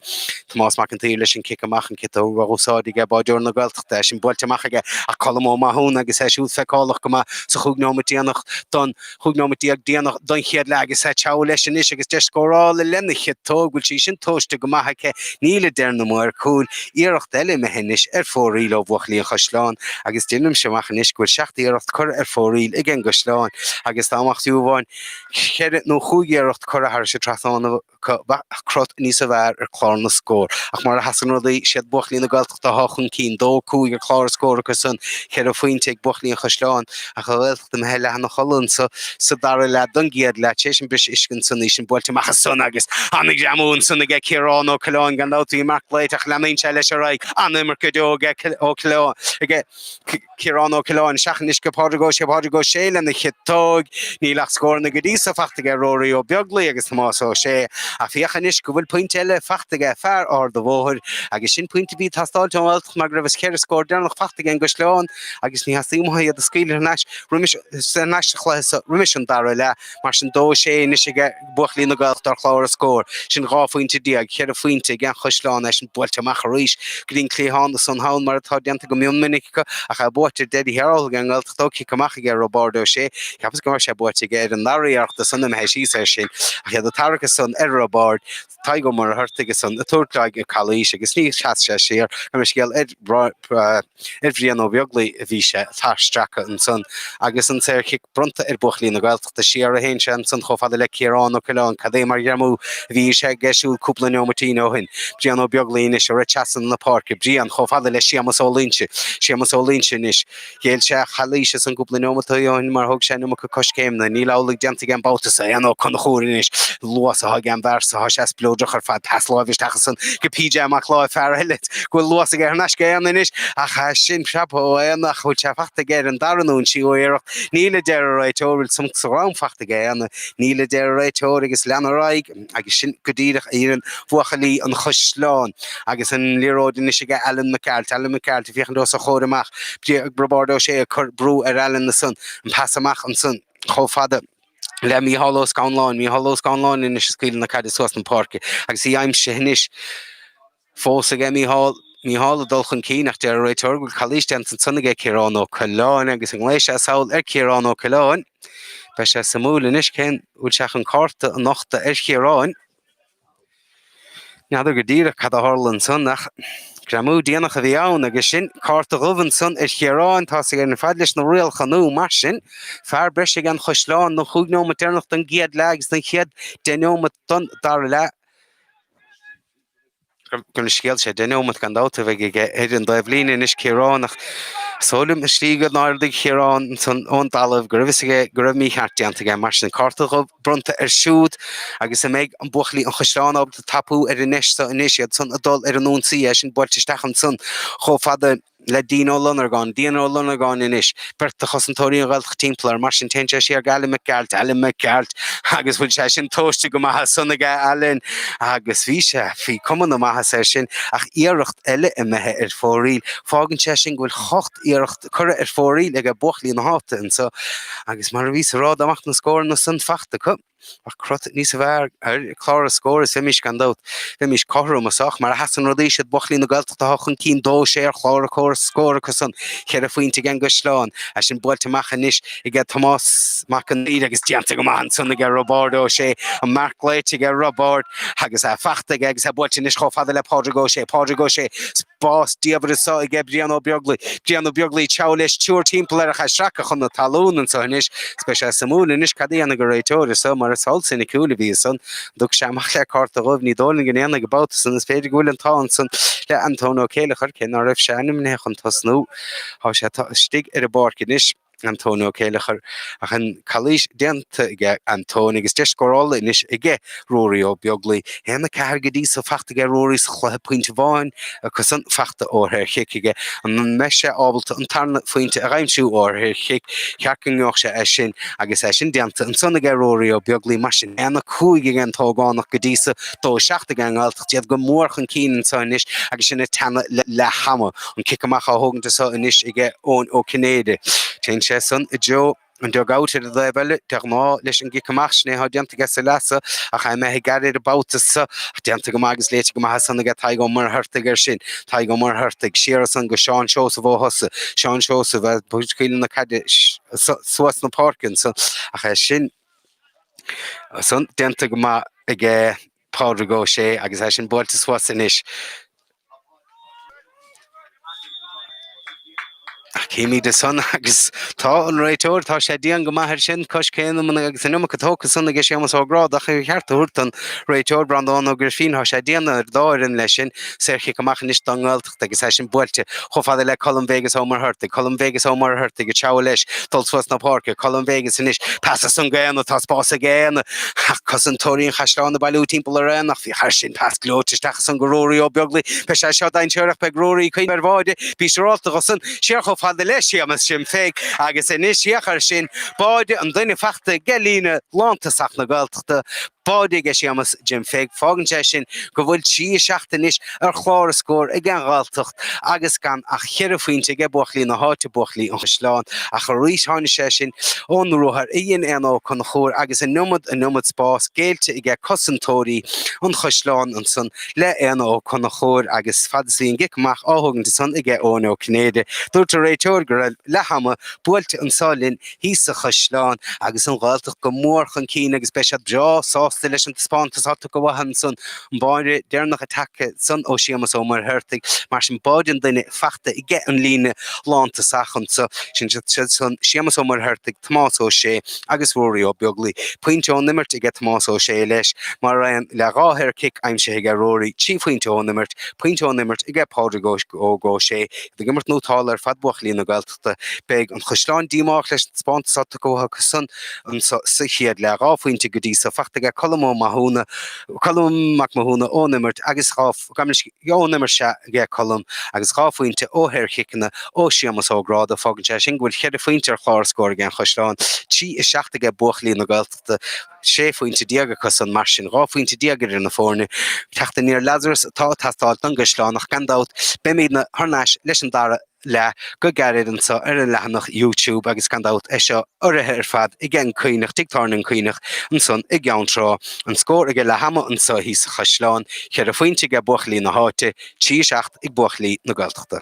Tomás Mac an tSaoir leis an cic amach, an chiotóg á úsáid aige báireoir na Gaeltachta, é sin buailte amach aige ach Colm Ó Mathúna agus é siúd feiceálach go maith sa chúig nóimeat déanach don chúig nóimeat déag déanach don chéad leath agus isteach leis anois agus deis scórála lena chiotóg, bhfuil sí sin tomhaiste go maith aige, níl a deir na maoir cúil, iarracht eile imithe anois ar fóraoil ó bhuachaillí an Chaisleáin agus déanaimse amach anois go bhfuil seacht iarracht curtha ar fóraoil ag an gCaisleáin agus dá mbeadh fiú amháin ceithre nó chúig iarracht curtha thairis an trasnán. acu bheadh crot níos a bhfearr ar chlár na scór. Ach mar a sheasann rudaí, 'siad buachaillí na Gaeltachta athá chun cinn, 2, 5 ar chlár na scór acu san, 4 phointe ag buachaillí an Chaisleáin, ach an Ghaeltacht imithe leath ina chodladh anso sa dara leath don gcéad leath, tar éis an bhris uisce ansan, í sin buailte amach ansan agus ana-ghreamú ansan aige, Ciarán Ó Coileáin gan dabht, bhí marc aige ach leanann sé leis ar aghaidh, an-imirt go deo aige, Ciarán Ó Coileáin. Ciarán Ó Coileáin, isteach anois go Pádraig Ó Sé Pádraig Ó Sé lena chiotóig, níl ach scóranna go dtí so fachta aige Ruairí Ó Beaglaoich agus Tomás Ó Sé, ach féach anois go bhfuil pointe eile fachta aige fear Ard a' Bhóthair, agus sin pointe bhí ag teastáilt ón nGaeltacht mar go raibh an cheithre scór deireanach fachta aige an gCaisleán agus níor theastaigh uatha iad a scaoileadh thar n-ais roimis thar n-ais sa chluiche so roimis an dara leath, mar sin dó sé anois aige. buachaillí na Gaeltachta ar chlár na scór. Sin dhá phointe déag, cheithre phointe, ag an gCaisleán í sin buailte amach arís. Go dtí an cliathán ansan thall mar atá déanta go mion minic acu ach é buaite ar deireadh thiar thall ag an nGaeltacht ón gcic amach aige Roibeárd Ó Sé. Cheapas go mbeadh sé buaite aige ar an ndara iarracht ansan imithe síos air sin ach iad ag tarrac ansan ar Roibeárd. Tadhg Ó Muircheartaigh ansan ag tabhairt uaidh calaois agus ní sheas sé siar. Tá mé scéal ar. Ar Bhrian Ó Beaglaoi a bhí sé á stracadh ansan agus an tsaorchic bronnta ar bhuachaillí na Gaeltachta siar a théann sé ansan chomh fada le Ciarán Ó Coileáin. Cad é mar ghreamú a bhí sé aige siúd cúpla neomaitín ó shin. Brian Ó Beaglaoi anois ag rith trasna na páirce. Brian chomh fada le Séamas Ó Loinsigh. Séamas Ó Loinsigh anois. Ghéill sé an chalaois ansan cúpla neomataí ó shin mar thóg sé an iomarca coiscéimeanna. Níl amhlaidh déanta aige an babhta so. Éanna Ó Conchúir anois. Luas atá aige an bhfear so. Tá sé spleodrach ar fad. Pas láimhe isteach ansan go PJ Mac Láimh, fear eile. go bhfuil luas aige thar n-ais go Éanna anois, ach sin preabtha ó Éanna, ach bhfuil sé fachta aige ar an dara nó an tríú iarracht. Níl, a deir an réiteoir, bhfuil sonc sa drom fachta aige Éanna. Níl, a deir an réiteoir, agus lean ar aghaidh, agus sin go díreach a dhéanann buachaillí an Chaisleáin. Agus an liathróid anois aige Alan Mac Gearailt. Alan Mac Gearailt ag féachaint os a chomhair amach, Roibeárd Ó Sé ag cur brú ar Alan ansan, an pas amach ansan chomh fada le Mícheál Ó Scannláin. Mícheál Ó Scannláin anois ag scaoileadh na caide suas na páirce, agus í aimsithe anois. fós aige, Mícheál, Mícheál ag dul chun cinn ach deir an réiteoir go bhfuil calaois déanta ansan aige, Ciarán Ó Coileáin, agus ghlaoigh sé sall ar Chiarán Ó Coileáin. Beidh sé suimiúil anois cén uair sé chun cárta a nochtadh ar Chiarán. N'fheadar go díreach cad a tharla ansan ach greamú déanach a bhí ann agus sin cárta dhubh ansan ar Chiarán. Tá sé ar fad leis na rialacha nua, mar sin, fear breise aige an Chaisleáin don chúig neomat deireanach den gcéad leath agus don chéad deich neomat den dara leath. Gona scéal sé deich neomat gan dabht a bheidh aige ar an dtaobhlíne anois Ciarán ach is dóigh liom sa tslí inar ardaigh Ciarán ansan ón dtalamh go raibh fhios aige go raibh mícheart déanta aige. Mar sin, cárta dhubh bronnta air siúd agus an mbeidh buachaillí an Chaisleáin ábalta tapú ar an ndeis so anois, iad san ag dul ar an ionsaí, é sin buailte isteach ansan chomh fada le Dean Ó Lonargáin, Dean Ó Lonargáin anois, beirt de chosantóirí an Ghaeltacht timpeall air, mar sin téann sé siar go Alan Mac Gearailt, Alan Mac Gearailt, agus bhfuil sé sin tomhaiste go maith ansan aige, Alan, agus bhí sé bhí cuma na maitheasa air sin, ach iarracht eile imithe ar fóraoil, fágann sé sin go bhfuil ocht iarracht curtha ar fóraoil ag a' buachaillí na háite anso, agus mar a bhíos ag rá dá mbeadh na scóranna san fachta acu. Bheadh crot níos fearr ar chlár na scór is bheimis, gan dabht, bheimis cothrom anso ach mar a sheasann rudaí, siad buachaillí na Gaeltachta atá chun cinn dó, sé ar chlár na scór acu san, cheithre phointe aige an gCaisleán, é sin buailte amach anois ag Tomás Mac an tSaoir agus déanta go maith ansan aige Roibeárd Ó Sé, an marc glaoite aige Roibeárd agus é fachta aige agus é buailte anois chomh fada le Pádraig Ó Sé, Pádraig Ó Sé, spás diamhair anso aige Brian Ó Beaglaoi. Brian Ó Beaglaoi ag treabhadh leis triúr timpeall air ach é stractha chun na talún anso anois, agus beidh sé suimiúil anois cad a dhéanfaidh an réiteoir anso, mar is feall soiniciúil a bhí ansan. An dtiocfaidh sé amach le cárta dhubh? Ní dóigh liom go ndéanfaidh, an babhta san. Is féidir go bhfuil an t-ádh ansan le Antóin Ó Céilleachair, cé ná raibh sé ainmnithe chun tosnú. Tá sé istigh ar an bpáirc anois. Antóin Ó Céilleachair, ach an chalaois déanta aige Antóin agus deis scórála anois aige Ruairí Ó Beaglaoi, 1, 4, go dtí so fachta aige Ruairí sa chluiche pointe amháin acusan fachta ó shaorchic aige an mbeidh sé ábalta an tarna phointe a aimsiú ó shaorchic cheart go ngeobhadh sé é sin agus é sin déanta ansan aige Ruairí Ó Beaglaoi mar sin 1, 5 aige an t-ógánach go dtí so, 2, 7 aige an Ghaeltacht iad go mór chun cinn anso anois agus sinn ag teannadh le hama. An cic amach á thógaint anseo anois ag Eoin Ó Cinnéide. Téann sé san i dtreo an dug out ar an dtaobh eile, de ghnáth, leis an gcic amach, sin é atá déanta aige sa leath so ach é imithe gairid an babhta so. Ach déanta go maith agus léite go maith as san aige Tadhg Ó Muircheartaigh air sin. Tadhg Ó Muircheartaigh, siar as san go Seán Seosamh Ó hOsa. Seán Seosamh, a' scaoileadh na caide suas na páirce ansan ach é sin san déanta go maith aige. Pádraig Ó Sé, Agus é sin buailte suas anois, chímid ansan agus tá an réiteoir, tá sé dian go maith air sin, coiscéimeanna agus an iomarca tógtha ansan aige Séamas Ó Gráda, chun a cheart a thabhairt don réiteoir, Breandán Ó Grifín, tá sé dian ar an dá fhoireann leis sin, saor chic amach anois don nGael. Agus é sin buailte chomh fada le Colm Vegas Ó Muircheartaigh, Colm Vegas Ó Muircheartaigh ag treabhadh leis dul suas na páirce, Colm Vegas anois pas as san go Éanna, tá spás ag Éanna ach cosantóirí an Chaisleáin ag bailiú timpeall ar Éanna ach féach air sin pas gleoite isteach as san go Ruairí Ó Beaglaoi, beidh sé seo dainséarach beidh Ruairí ag cuimhneamh ar bháide, bhí sé rómhall dosan, siar chomh fada le Séamas Jim Pheig agus anois féach air sin báide an duine fachta aige líne lántosach na Gaeltachta. Báide aige Séamas Jim Pheig, fágann sé sin go bhfuil trí a seacht anois ar chlár a scór ag an Ghaeltacht agus gan ach cheithre phointe aige buachaillí na háite, buachaillí an Chaisleáin, ach arís tháinig sé sin ón ruathar a dhein Éanna Ó Conchúir agus an iomad, an iomad spás géillte aige cosantóirí an Chaisleáin ansan le Éanna Ó Conchúir agus fad is bhí an cic amach á thógaint ansan aige Eoin Ó Cinnéide, dúirt an réiteoir go raibh leath ama buailte anso linn thíos sa Chaisleán agus an Ghaeltacht go mór chun cinn agus beidh siad breá sásta leis an taispeántas atá tugtha uathu ansan báide deireanach atá tagtha ansan ó Séamus Ó Muircheartaigh. Mar sin, báide an duine fachta aige an líne lántosach anso. Sin iad san, Séamus Ó Muircheartaigh, Tomás Ó Sé agus Ruairí Ó Beaglaoi. Pointe ón imirt aige Tomás Ó Sé leis, mar aon le dhá shaor chic aimsithe aige Ruairí, trí phointe ón imirt, pointe ón imirt aige Pádraig Óg Ó Sé. Iad ag imirt nótálta ar fad buachaillí na Gaelt. Gaeltachta. Beidh an Chaisleán díomách leis an taispeántas atá tugtha acu ansan sa chéad leath. Dhá phointe go dtí so fachta aige Colm Ó Mathúna, Colm Mac Mathúna ón imirt agus dhá, ón imirt sea aige Colm agus dhá phointe ó shaorchiceanna ó Séamus Ó Gráda. Fágann sé sin go bhfuil cheithre phointe ar chlár scóir ag an Chaisleán, trí is seacht aige buachaillí na Gaeltachta, sé phointe déag acusan. Mar sin dhá phointe déag idir na foirne. Teacht aniar Lazarus atá ag teastáil don gCaisleán ach gan dabht beimidne thar n-ais leis an dara leath. leath go gairid anso ar an leathanach YouTube agus gan dabht é seo urraithe ar fad aige An Cuinneach, Tigh Tábhairne An Cuinneach ansan i gCeann Trá. An scór aige leath ama anso thíos sa Chaisleán, cheithre phointe aige buachaillí na háite, trí, a seacht ag buachaillí na Gaeltachta.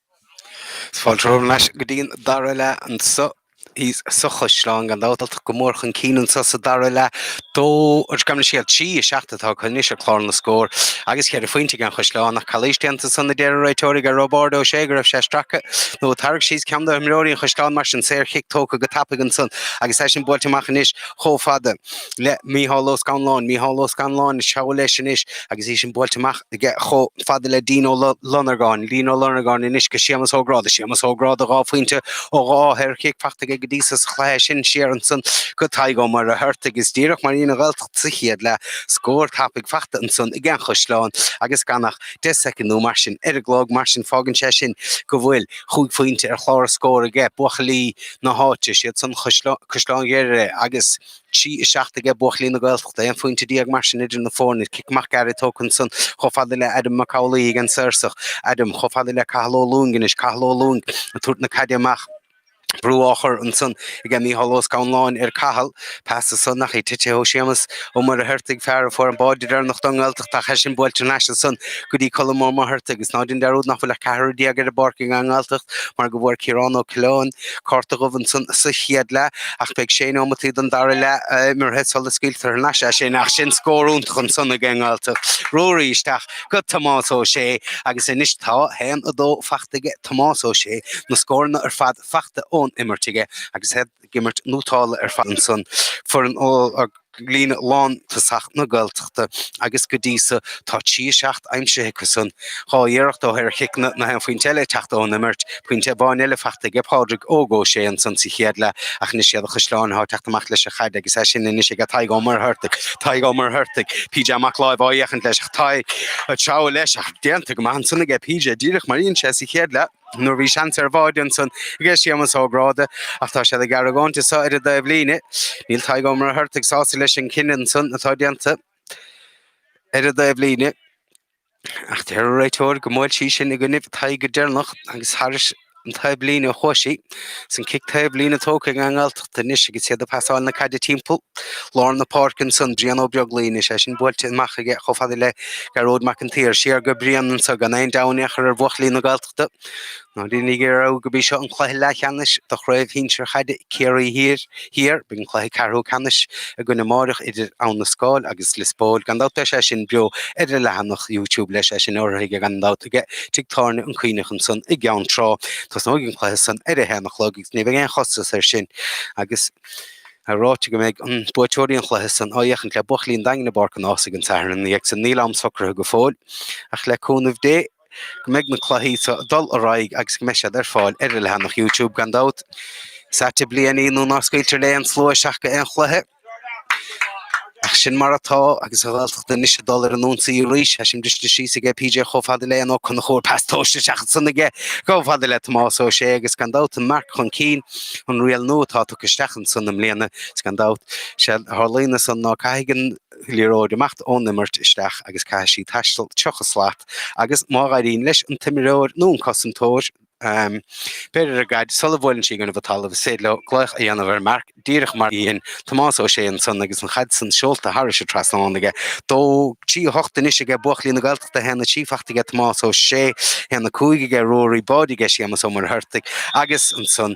Fáilte romhaibh thar n-ais go dtí an dara leath anso thíos sa chaisleán, an Ghaeltacht go mór chun cinn anso sa dara leath dó. An screamh, na scéalta, trí a seacht atá acu anois ar chlár na scór agus cheithre phointe aige an Chaisleán ach calaois déanta ansan a deir an réiteoir aige Roibeárd Ó Sé go raibh sé stractha nó tarraigthe síos ceann d'imreoirí an chaisleáin. Mar sin, saor-chic tógtha go tapaidh ansan agus é sin buailte amach anois chomh fada. le Mícheál Ó Scanláin. Mícheál Ó Scanláin ag treabhadh leis anois agus í sin buailte amach aige chomh fada le Dean Ó Lonargáin, Dean Ó Lonargáin anois go Séamas Ó Gráda, Séamas Ó Gráda dhá phointe ó dhá shaorchic fachta aige go dtí so sa chluiche sin siar ansan go Tadhg Ó Muircheartaigh agus díreach mar a dhein an Ghaeltacht sa chéad leath, scór tapaidh fachta ansan aige an Chaisleán agus gan ach deich soicind nó mar sin ar an gclog mar sin fágann sé sin go bhfuil chúig phointe ar chlár na scór aige buachaillí na háite is iad san, Caisleán Ghriaire agus. trí, a seacht aige, buachaillí na Gaeltachta, aon phointe déag mar sin idir na foirne, cic amach gairid tógtha ansan, chomh fada le Adam Mac Amhlaoidh ag an saorsach, Adam, chomh fada le Cathal Ó Lúing anois, Cathal Ó Lúing ag tabhairt na caide amach, brú á chur ansan aige Micheál Ó Scanláin ar Cathal, pas ansan ach í tite ó Séamus Ó Muircheartaigh, fear a fuair an báide deireanach don nGaeltacht ach í sin buailte thar n-ais ansan go dtí Colm Ó Muircheartaigh, is ná déan dearúd nach bhfuil ach ceathrar déag ar an bpáirc ag an nGaeltacht mar go bhfuair Ciarán Ó Coileáin, cárta dubh ansan sa chéad leath ach beidh sé neomataí don dara leath imeartha sula scaoiltear thar n-ais é. Ach sin scór iontach ansan aige an nGaeltacht. Ruairí isteach go Tomás Ó Sé agus anois tá haon, a dó fachta aige Tomás Ó Sé, na scóranna ar fad fachta ón imirt aige agus iad ag imirt nótálta ar fad ansan. Foireann ó. líne lántosach na Gaeltachta agus go dtí so tá trí a seacht aimsithe acu san. Dhá iarracht ó shaorchiceanna, gach aon phointe eile ag teacht ón imirt. Pointe amháin eile fachta aige Pádraig Óg Ó Sé ansan sa chéad leath ach anois iad an Chaisleán athá teacht amach leis an chaid agus é sin anois aige Tadhg Ó Muircheartaigh. Tadhg Ó Muircheartaigh, PJ Mac Láimh á fhéachaint leis ach Tadhg ag treabhadh leis ach déanta go maith ansan aige PJ díreach mar a dhein sé sa chéad leath. Nuair a bhí seans ar bháide ansan aige Séamas Ó Gráda, ach tá siad ag argóint anso ar an dtaobh líne. Níl Tadhg Ó Muircheartaigh sásta leis an chinneadh ansan atá déanta ar an dtaobh líne, ach deir an réiteoir go mbuail sí sin i gcoinnibh Tadhg go deireanach agus thairis an taobh líne a chuaigh sí. San cic taobhlíne tógtha ag an nGaeltacht anois agus iad ag pasáil na caide timpeall lár na páirce ansan. Brian Ó Beaglaoich anois é sin buailte amach aige chomh fada le Gearóid Mac an tSaoir. Siar go Brian anso gan aon deabhadh in aon chor ar bhuachaillí na Gaeltachta. Ná déanaigí dearúd gurb í seo an cluiche leathcheannais do Chraobh Shinsir Chaide Chiarraí Thiar. Thiar. Beidh an cluiche ceathrú ceannais againn amárach idir Abha na Scáil agus Lios Póil. Gan dabht beidh sé sin beo ar ár leathanach YouTube leis é sin urraithe aige gan dabht aige tigh tábhairne An Cuinneach ansan i gCeann Trá. Tosnóidh an cluiche san ar a haon a chlog agus ní bheidh aon chostas air sin agus tá ráite go mbeidh an buaiteoirí an chluiche san á fhéachaint le buachaillí an Daingin i bPáirc an Ághasaigh an Satharn ina dhiaidh san. Níl am socruithe go fóill ach le cúnamh Dé. go mbeidh na cluichí seo ag dul ar aghaidh agus go mbeidh siad ar fáil ar ár leathanach YouTube gan dabht. Is ait an bhliain í nuair ná scaoiltear le haon slua isteach go haon chluiche. Ach sin mar atá agus an Ghaeltacht anois ag dul ar an ionsaí arís, tá sé briste síos aige PJ chomh fada le Éanna Ó Conchúir, pas tomhaiste isteach ansan aige chomh fada le Tomás Ó Sé agus gan dabht an marc chun cinn, an riail nua atá tugtha isteach ansan i mbliana is gan dabht, sé a tharlaíonn ansan ná caithfidh an Liathróidh imeacht ón imirt isteach agus caithfidh sí taisteal tríocha slat agus má dh'éiríonn leis an t-imreoir nó an cosantóir breith ar an gcaid sula mbuaileann sí i gcoinnibh an talaimh is féidir leo glaoch a dhéanamh ar marc díreach mar a dhein Tomás Ó Sé ansan agus an chaid san seolta thairis an trasnán aige dó. 3 8 anois aige buachaillí na Gaeltachta 1 3 fachta aige Tomás Ó Sé 1 5 aige Ruairí, báide aige Séamas Ó Muircheartaigh agus ansan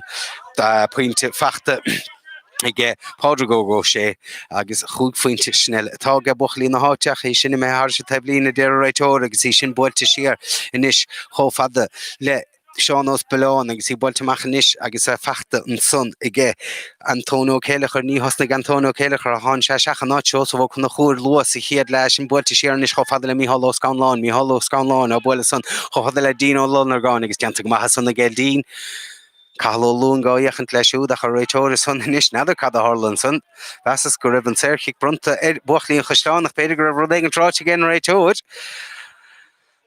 pointe fachta. aige, Pádraig Óg Ó Sé, agus chúig phointe sin uile atá aige buachaillí na háite, ach é sin imithe thairis an taobhlíne, a deir an réiteoir, agus í sin buailte siar anois chomh fada le Seán Ó Spealáin, agus í buailte amach anois agus í fachta ansan aige, Antóin Ó Céilleachair. Níor thosnaigh Antóin Ó Céilleachair ach tháinig sé isteach in áit Seosamh Ó Conchúir luath sa chéad leath, é sin buailte siar anois chomh fada le Micheál Ó Scanláin, Micheál Ó Scanláin á bualadh san chomh fada le Dean Ó Lonargáin, agus déanta go maith san aige Dean. Cathal Ó Lúing á fhéachaint leis siúd, ach an réiteoir ansan anois. N'fheadar cad a tharla ansan. Mheasas go raibh an saorchic bronnta ar bhuachaillí an Chaisleáin, ach b'fhéidir go raibh rud éigin ráite ag an réiteoir.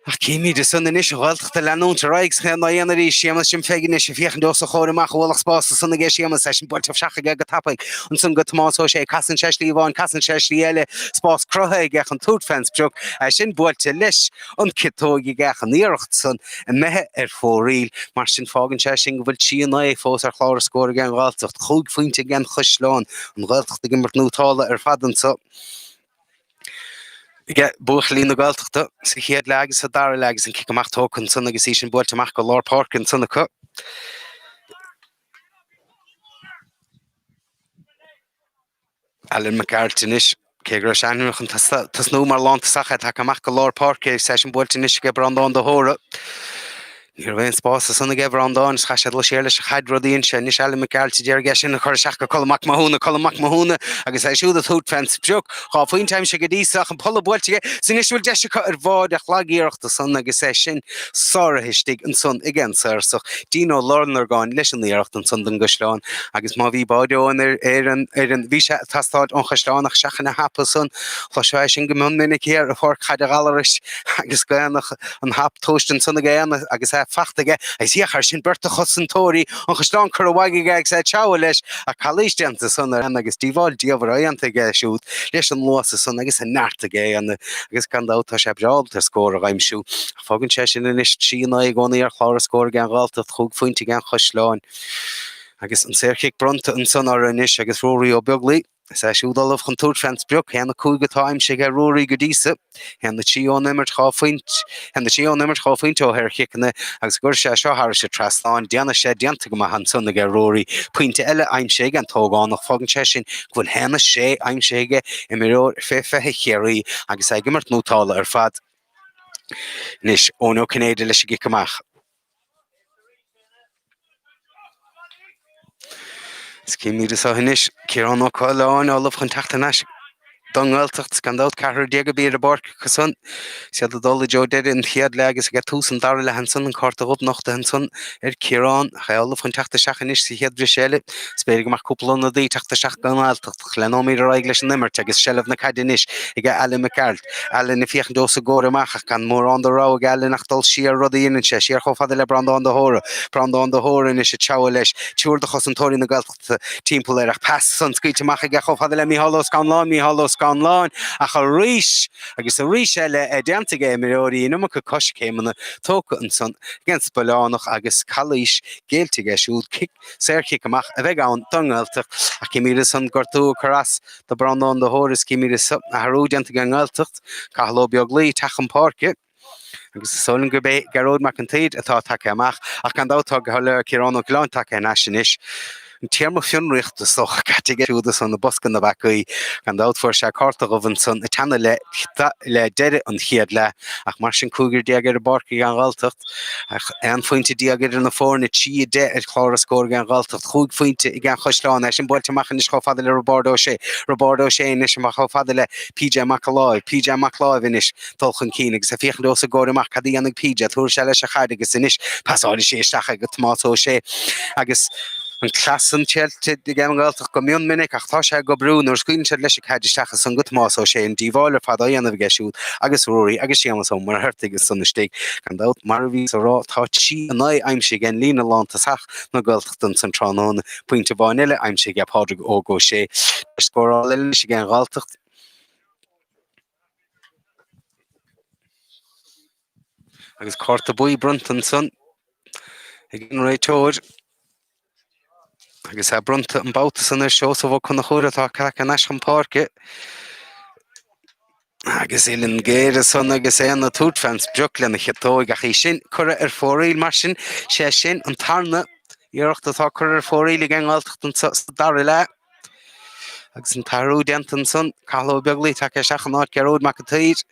Ach címid ansan anois, an Ghaeltacht ag leanúint ar aghaidh san aon lá dhéanach arís. Séamas Jim Pheig anois ag féachaint os a chomhair amach, ualach spáis ansan aige. Séamas, é sin buailte isteach aige go tapaidh. Ansan go Tomás Ó Sé. Casann sé slí amháin, casann sé slí eile. Spás cruthaithe aige chun tabhairt fén sprioc. É sin buailte leis. an gciotóg aige ach an iarracht san imithe ar fóraoil. Mar sin, fágann sé sin go bhfuil trí a naoi fós ar chlár an scóir ag an Ghaeltacht, chúig phointe ag an Chaisleán, an Ghaeltacht ag imirt nótálta ar fad anso aige buachaillí na Gaeltachta sa chéad leath agus sa dara leath agus an cic amach tógtha ansan agus í sin buailte amach go lár páirce ansan acu. Alan Mac Gearailt anois, cé go raibh sé ainmnithe chun tosnú mar lántosach, tagtha amach go lár páirce agus é sin buailte anois ag Breandán de hÓra. Ní raibh aon spás ansan ag Breandán is chaith sé dul siar leis an chaid rud a dhein sé anois, Alan Mac Gearailt a d'éirigh as sin ag cur isteach go Colm Mac Mathúna, Colm Mac Mathúna agus é siúd ag tabhairt fén sprioc, dhá phointe aimsithe go dtí seo ach an pola buailte aige, is anois a bhfuil deis acu ar bhád a chlog iarracht ansan agus é sin. sáraithe istigh ansan ag an Saorsach, dínn ó lár an orgáin leis an iarracht ansan don gcaisleán, agus má bhí báid Eoghain ar an fhoireann, bhí sé ag teastáil ón chaisleán ach seachain an hap ansan. Chloisfeá é sin go mion minic thiar i bPáirc Chaide Ghallarais agus guéanach an hap tomhaiste ansan ag Éanna agus í fachta aige agus féach air sin beirt de chosantóirí an chaisleáin curtha uaidh aige agus é ag treabhadh leis ach calaois déanta ansan ar Éanna agus díobháil diamhair déanta aige siúd leis an luas ansan agus an neart aige Éanna agus gan dabht tá sé breá ábalta ar scór a aimsiú, ach fágann sé sin anois 3-9 i gcónaí ar chlár na scór ag an nGaeltacht cúig phointe ag an gCaisleán. Agus an saorchic bronnta ansan orthu anois agus Ruairí Ó Beaglaoi, is é siúd ullamh chun tabhairt fén sprioc. 1-5 atá aimsithe ag Ruairí go dtí so, 1-3 ón imirt, dhá phointe, 1-3 ón imirt dhá phointe ó shaorchiceanna agus an gcuirfidh sé seo thairis an trasnán. Déanann sé déanta go maith ansan aige Ruairí. Pointe eile aimsithe ag an t-ógánach. Fágann sé sin go bhfuil haon is sé aimsithe aige, imreoir fé 20 Chiarraí, agus é ag imirt nótála ar fad. Anois, Eoin Ó Cinnéide leis an gcic amach. Chímid anso anois Ciarán Ó Coileáin ullamh chun teacht thar n-ais don nGaeltacht is gan dabht ceathrar déag a bhí ar an bpáirc acu san is iad ag dul i dtreo deireadh an chéad leath agus ag tús an dara leath ansan an cárta dhubh nochta ansan ar Chiarán ach é ullamh chun teacht isteach anois sa chéad bhriseadh eile is féidir go mbeidh cúpla ionadaí ag teacht isteach don nGaeltacht Leanóimid ar aghaidh leis an imirt agus seilbh na caide anois ag Alan Mac Gearailt. Alan ag féachaint os a gcomhair amach ach gan mórán de rogha ag Alan ach dul siar, rud a dhéanann sé. Siar chomh fada le Breandán de hÓra. Breandán de hÓra anois ag treabhadh leis. Triúr de chosantóirí na Gaeltachta timpeall air ach pas san scaoilte amach aige chomh fada le Micheál Ó Scanláin. Micheál Ó Scanláin ach arís agus arís eile déanta ag imreoirí an iomarca coiscéimeanna tógtha ansan ag an Spiolánach agus calaois géillte aige siúd. Cic. Saor-chic amach a bheidh ann don nGaeltacht ach chímid ansan gortú ag cur as do Bhreandán de hÓra is chímid leis athrú déanta ag an nGaeltacht. Cathal Ó Beaglaoi ag teacht chun páirce. Agus is dóigh liom gurb é Gearóid Mac an tSaoir atá tagtha amach ach gan dabht tá go soiléir Ciarán Ó Coileáin tagtha thar n-ais anois. An téarma fionraíocht is dócha caite aige siúd i mbosca na bpeacaí. Gan dabht fuair sé cárta dhubh ansan ag teannadh le deireadh an chéad leath ach mar sin cúigear déag ar an bpáirc ag an nGaeltacht. Ach aon phointe déag idir na foirne 3-10 ar chlár na scór ag an nGaeltacht, cúig phointe ag an gCaisleán. É sin buailte amach anois chomh fada le Roibeárd Ó Sé. Roibeárd Ó Sé anois amach chomh fada le PJ Mac Láimh. PJ Mac Láimh anois ag dul chun cinn agus ag féachaint os a gcomhair amach. Cad a dhéanfaidh PJ? Tabharfaidh sé leis an chaid agus anois pasálfaidh sé isteach go Tomás Ó Sé agus an cleas san triailte aige an nGaeltacht go mion minic ach tá sé ag obriú nuair scaoileann siad leis an gcaid isteach ansan go Tomás Ó Sé an díobháil ar fad á dhéanamh aige siúd agus Ruairí agus Séamas Ó Muircheartaigh ansan istigh. Gan dabht, mar a bhíos a rá, tá trí a naoi aimsithe aige an líne lántosach na Gaeltachta ansan tráthnóna, pointe amháin eile aimsithe aige Pádraig Óg Ó Sé, tá scóráil eile anois aige an nGaeltacht. Agus cárta buí bronnta ansan ag an réiteoir. Agus é bronnta an babhta san ar Seosamh Ó Conchúir atá tagtha thar n-ais chun páirce. Agus uilleann géar ansan agus é ag tabhairt fén speach lena chiotóig ach í sin curtha ar fóraoil mar sin, sé sin an tarna iarracht atá curtha ar fóraoil aige an nGaeltacht anseo sa dara leath. Agus an t-athrú déanta ansan, Cathal Ó Beaglaoi tagtha isteach in áit Gearóid Mac an tSaoir.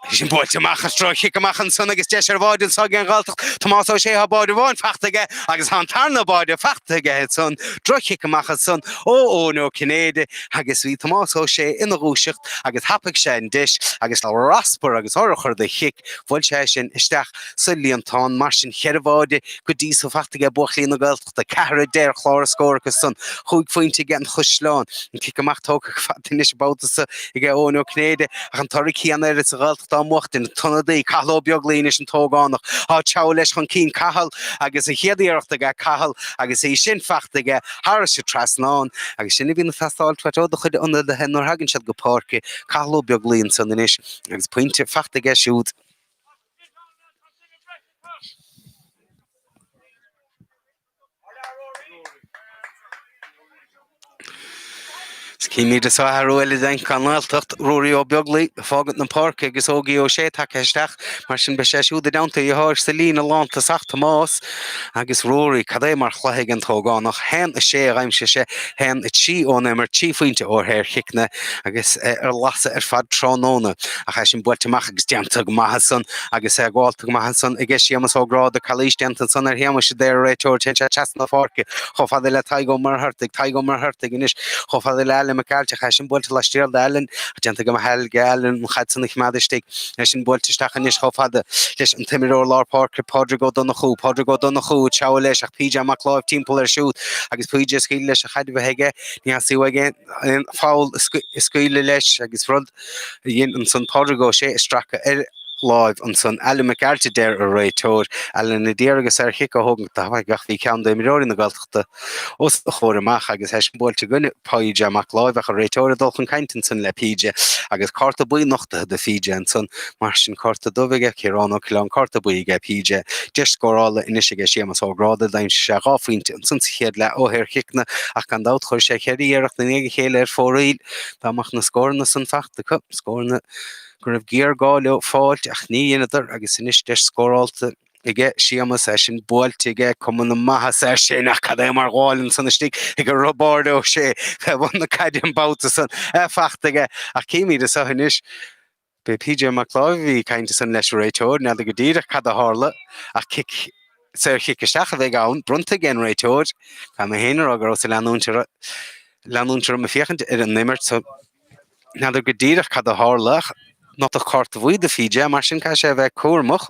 Í sin buailte amach droch-chic amach ansan agus deis ar bháide anso aige an nGaeltacht, Tomás Ó Sé tá báide amháin fachta aige agus tá an tarna báide fachta aige ansan, droch-chic amach ansan ó Eoin Ó Cinnéide agus bhí Tomás Ó Sé ina dhúiseacht agus thapaigh sé an deis agus le raspar agus urchar de chic bhuail sé é sin isteach sa líontán mar sin cheithre bháide go dtí so fachta aige buachaillí na Gaeltachta. Lucht 4 a deir clár na scór acu san chúig phointe aige an gCaisleán. An cic amach tógtha go fada anois an babhta so aige Eoin Ó Cinnéide ach an toradh céanna air is an Ghaeltacht á bhuachtaint. An t-ionadaí, Cathal Ó Beaglaoi anois an t-ógánach ag treabhadh leis chun cinn. Cathal agus an chéad iarracht aige. Cathal agus é sin fachta aige thairis an trasnán. Agus sin a bhíonn ag teastáil uait ó do chuid ionadaithe nuair thagann siad go páirce. Cathal Ó Beaglaoi ansan anois agus pointe fachta aige siúd. Is chímid anso athrú eile déanta ag an nGaeltacht, Ruairí Ó Beaglaoi ag fágaint na páirce agus Óigí Ó Sé tagtha isteach, mar sin beidh sé siúd i dteannta a dheartháir sa líne lántosach, Tomás. Agus Ruairí, cad é mar chluiche ag an t-ógánach? haon a sé a dhaimsigh sé, haon a trí ón imirt, trí phointe ó shaorchiceanna agus é ar lasadh ar feadh tráthnóna. Ach í sin buailte amach agus déanta go maith ansan agus é gabhálta go maith ansan aige Séamus Ó Gráda, calaois déanta ansan ar Shéamus a deir an réiteoir, téann sé trasna na páirce chomh fada le Tadhg Ó Muircheartaigh, Tadhg Ó Muircheartaigh anois chomh fada le Alan Mac Gearailt, ach í sin buailte laistiar d'Alan ach déanta go maith aige Alan an chaid san a choimeád istigh. é sin buailte isteach anois chomh fada leis an t-imreoir lár páirce Pádraig Ó Donnchú. Pádraig Ó Donnchú ag treabhadh leis ach PJ Mac Láimh timpeall air siúd agus PJ ag scaoileadh leis an chaid a bheith aige. Ní theastaigh uaidh aon pholl a scaoileadh leis agus rud a dhein ansan Pádraig Óg Ó Sé é a stracadh ar láimh ansan. Alan Mac Gearailt, a deir an réiteoir, Alan a d'iarraidh an saorchic a thógaint tapaidh ach bhí ceann d'imreoirí na Gaeltachta, os a chomhair amach agus eisean buailte aige, PJ Mac Láimh, an réiteoir ag dul chun cainte ansan le PJ agus cárta buí nochtaithe do PJ ansan, mar sin cárta dubh aige, Ciarán Ó Coileáin cárta buí aige, PJ. Deis scórála anois aige Séamas Ó Gráda, d'aimsigh sé dhá phointe ansan sa chéad leath ó shaorchiceanna ach gan dabht chuir sé cheithre iarracht i ndiaidh a chéile ar fóraoil. Dá mbeadh na scóranna san faighte acu, scóranna go raibh géarghá leo a fháilt ach níor dheineadar agus anois deis scórálta aige Séamas é sin, buailte aige, cuma na maitheasa air sin, ach cad é mar ghabháil ansan istigh aige Roibeárd Ó Sé fé bhun na caide an babhta san, é fachta aige. Ach chímid anso anois. B'é P.J. Mac Láimh a bhí ag caint ansan leis an réiteoir, n'fheadar go díreach cad a tharla, ach cic, saorchic isteach a bheidh ann, bronnta ag an réiteoir. Caithfidh mé féin a rá go rabhas ag leanúint orm, leanúint orm ag féachaint ar an imirt so n'fheadar go díreach cad a tharla ach nochtadh cárta buí do P.J. Mar sin caithfidh sé a bheith cúramach.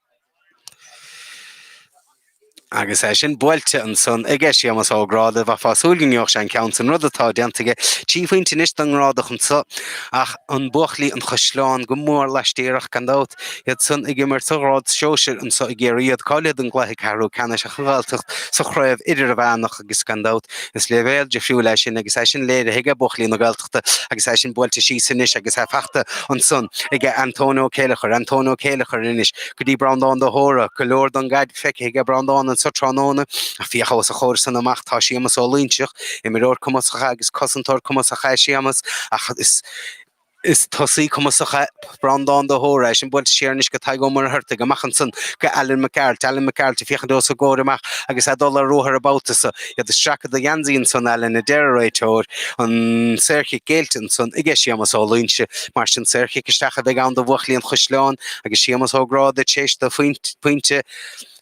Agus é sin buailte ansan, aige Séamas Ó Gráda, bheifá ag súil go ngeobhadh sé an ceann san rud atá déanta aige. Trí phointe anois don nGrádach anso, ach buachaillí an Chaisleáin, go mór laistiar ach, gan dabht, iad san ag imirt sa ghrád shóisir anso ag iarraidh iad cáilithe don gcluiche ceathrú ceannais ach an Ghaeltacht sa chraobh idirmheánach agus, gan dabht, is léibhéal difriúil é sin agus é sin léirithe aige, buachaillí na Gaeltachta. fachta agus é sin buailte síos anois agus é fachta ansan ag Antóin Ó Céileachair, Antóin Ó Céileachair anois go dtí Breandán de hÓra, go leor don gcaid feicthe ag Breandán anseo tráthnóna, ach féach os a chomhair san amach, tá Séamas Ó Loingsigh, imreoir cumasach agus cosantóir cumasach é Séamas ach is tosaí cumasach é. Breandán de hÓra, eisean buailte siar anois go Tadhg Ó Muircheartaigh, amach ansan go Alan McArt, Alan McArt ag féachaint os a chomhair amach agus é ag dul ar ruathar an babhta so, é ag stracadh de gheansaí ansan, Alan a deir an réiteoir, an saorchic géillte ansan aige, Séamas Ó Loingsigh, mar sin saorchic isteach a bheidh ann do bhuachaillí an Chaisleáin agus Séamas Ó Gráda tar éis dó pointe,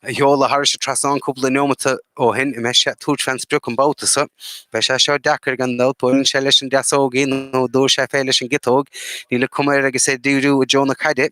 a sheoladh thar an trasnán cúpla neomata ó shin, an mbeidh sé ag tabhairt fén sprioc an babhta so, beidh sé seo deacair gan dabht, an mbuailfidh sé leis an deasóg í nó an dtabharfaidh sé fúithi leis an gciotóg, níl an chuma air agus é ag díriú i dtreo na caide.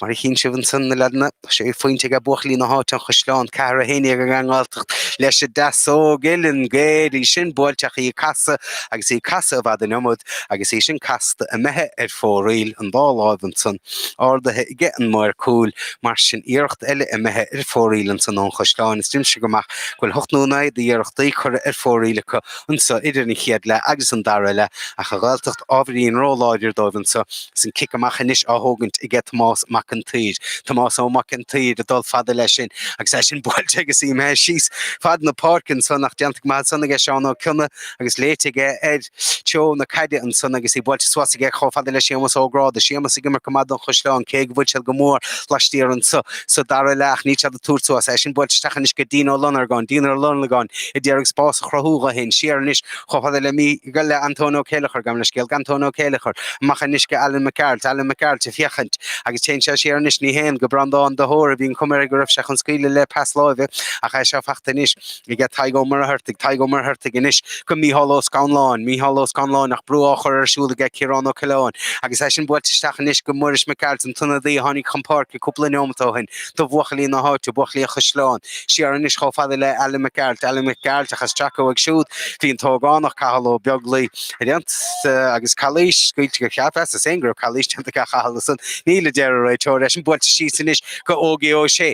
Mar a chíonn sibh ansan, na leaideanna, tá sé phointe aige buachaillí na háite, an Chaisleáin, ceathair a haon déag ag an nGaeltacht leis an deasóg, uillinn ghéar í sin, buailte ach í ag casadh agus í ag casadh i bhfad an iomad agus í sin casta imithe ar fóraoil an dá láimh ansan, ardaithe aige an maor cúil, Mar sin, iarracht eile imithe ar fóraoil anso ón gCaisleán, is cuimhin liomsa go maith go bhfuil hocht nó naoi d'iarrachtaí curtha ar fóraoil acu anso idir an chéad leath agus an dara leath, ach an Ghaeltacht ábhairín róláidir dóibh anso, is an cic amach anois á thógaint aige Tomás Mac an tSaoir. Tomás Ó Mac an tSaoir ag dul fada leis sin agus é sin buailte agus imithe síos fad na páirce anso, nach déanta go maith ansan aige Seán Ó Cionnaith agus léite aige ar Treo na caide ansan agus í buailte suas aige chomh fada le Séamas Ó Gráda. Séamas ag imirt go maith don Chaisleán, cé go bhfuil siad go mór laistiar anso. Sa dara leath níl siad ag tabhairt suas. Í sin buailte isteach anois go Dean Ó Lonargáin, Dean Ó Lonargáin a d'iarraidh spás a chruthú dho fhéin. Siar anois chomh fada le le Antóin Ó Céilleachair, gabh mo leithscéal, go Antóin Ó Céilleachair. Amach anois go Alan Mac Gearailt, Alan Mac Gearailt ag féachaint agus téann sé siar anois, ní théann, go Breandán de hÓra, bhí an chuma air go raibh sé chun scaoileadh le pas láimhe ach í seo fachta anois. aige Tadhg Ó Muircheartaigh, Tadhg Ó Muircheartaigh anois go Mícheál Ó Scanláin, Mícheál Ó Scanláin ach brú á chur air siúd aige Ciarán Ó Coileáin agus í sin buailte isteach anois go Muiris Mac Gearailt, an t-ionadaí a tháinig chun páirce cúpla neomat ó shin do bhuachaillí na háite, buachaillí an Chaisleáin, siar anois chomh fada le Alan Mac Gearailt, Alan Mac Gearailt ach ag stracadh uaidh siúd bhí an t-ógánach, Cathal Ó Beaglaoi, ag déanamh agus calaois, scaoilte go cheapas ansan go raibh calaois déanta aige Cathal ansan, níl a deir an réiteoir, í sin buailte síos anois go Ógie Ó Sé.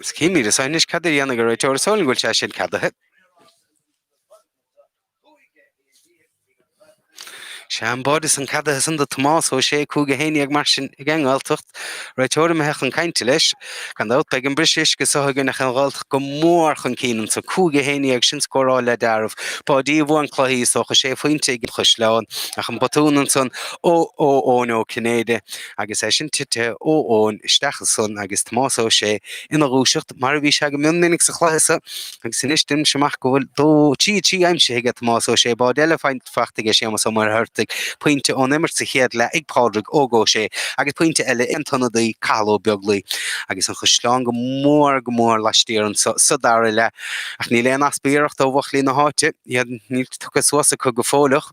Is cinn míle saith anois cad a dhéanfaidh an réiteoir is dóigh liom go bhfuil sé sin ceadaithe. Sea, an bád san ceadaithe ansan do Thomás Ó Sé, cúig a haon déag mar sin ag an nGaeltacht, réiteoir imithe chun cainte leis, Gan dabht, beidh an briseadh uisce seo againn ach an Ghaeltacht go mór chun cinn anso, 5 11 sin scóráil le deáramh. Báidí a bhuann cluichí, is dócha, sé phointe ag an Chaisleán ach an botún ansan ó Eoin Ó Cinnéide agus í sin titithe ó Eoin isteach ansan agus Tomás Ó Sé ina dhúiseacht mar a bhí sé go mion minic sa chluiche sa Agus anois, deinimse amach go bhfuil dó trí trí aimsithe aige Tomás Ó Sé, bád eile faighte aige Séamas Ó Muircheartaigh, pointe ón imirt sa chéad leath ag Pádraig Óg Ó Sé agus pointe eile ag an t-ionadaí Cathal Ó Beaglaoi. Agus an Chaisleán go mór go mór laistiar anseo sa dara leath. Ach níl aon easpa iarrachta ó bhuachaillí na háite. Iad níl tugtha suas acu go fóilleach.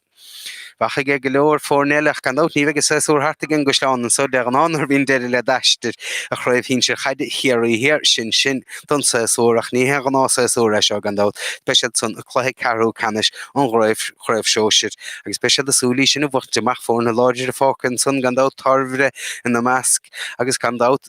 Bheadh aige go leor foirne eile ach gan dabht ní bheidh an séasúr thart ag an gCaisleán anseo de ghnáth nuair a bhíonn deireadh le d'aistear ar Chraobh Shinsir Chaide Chiarraí Thiar. Sin sin don séasúr ach ní haon ghnáthshéasúr é seo gan dabht. Beidh siad san i gcluiche ceathrú ceannais an Chraobh Shóisir agus beidh siad ag súil í sin a bhuachtaint amach. Foirne láidre fágtha ansan gan dabht, Tairbeart ina measc agus gan dabht,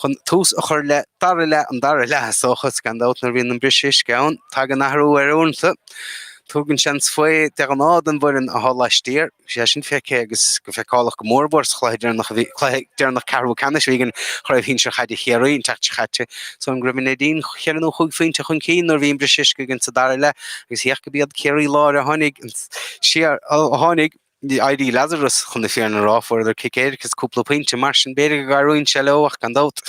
Chun tús a chur le dara leath an dara leath, is dócha, is gan dabht nuair a bhíonn an briseadh uisce ann, tagann athrú air uaireanta. Tugann sé an svae de ghnáth don bhfoireann atá laistiar. Bhí sé sin feicthe agus go feiceálach go mór mhór sa chluiche deireanach a bhí, cluiche deireanach ceathrú ceannais a bhí againn i gcraobh shinsir chaide Chiarraí an tseachtain seo chaite, so an go raibh Neidín cheithre nó chúig phointe chun cinn nuair a bhí an briseadh uisce againn sa dara leath agus féach go mba iad Ciarraí Láir a tháinig siar, a tháinig. éirí Lazarus chun na fírinne a rá, fuaireadar cic éirice is cúpla pointe, mar sin b'fhéidir go gcabhraíonn sé leo ach gan dabht,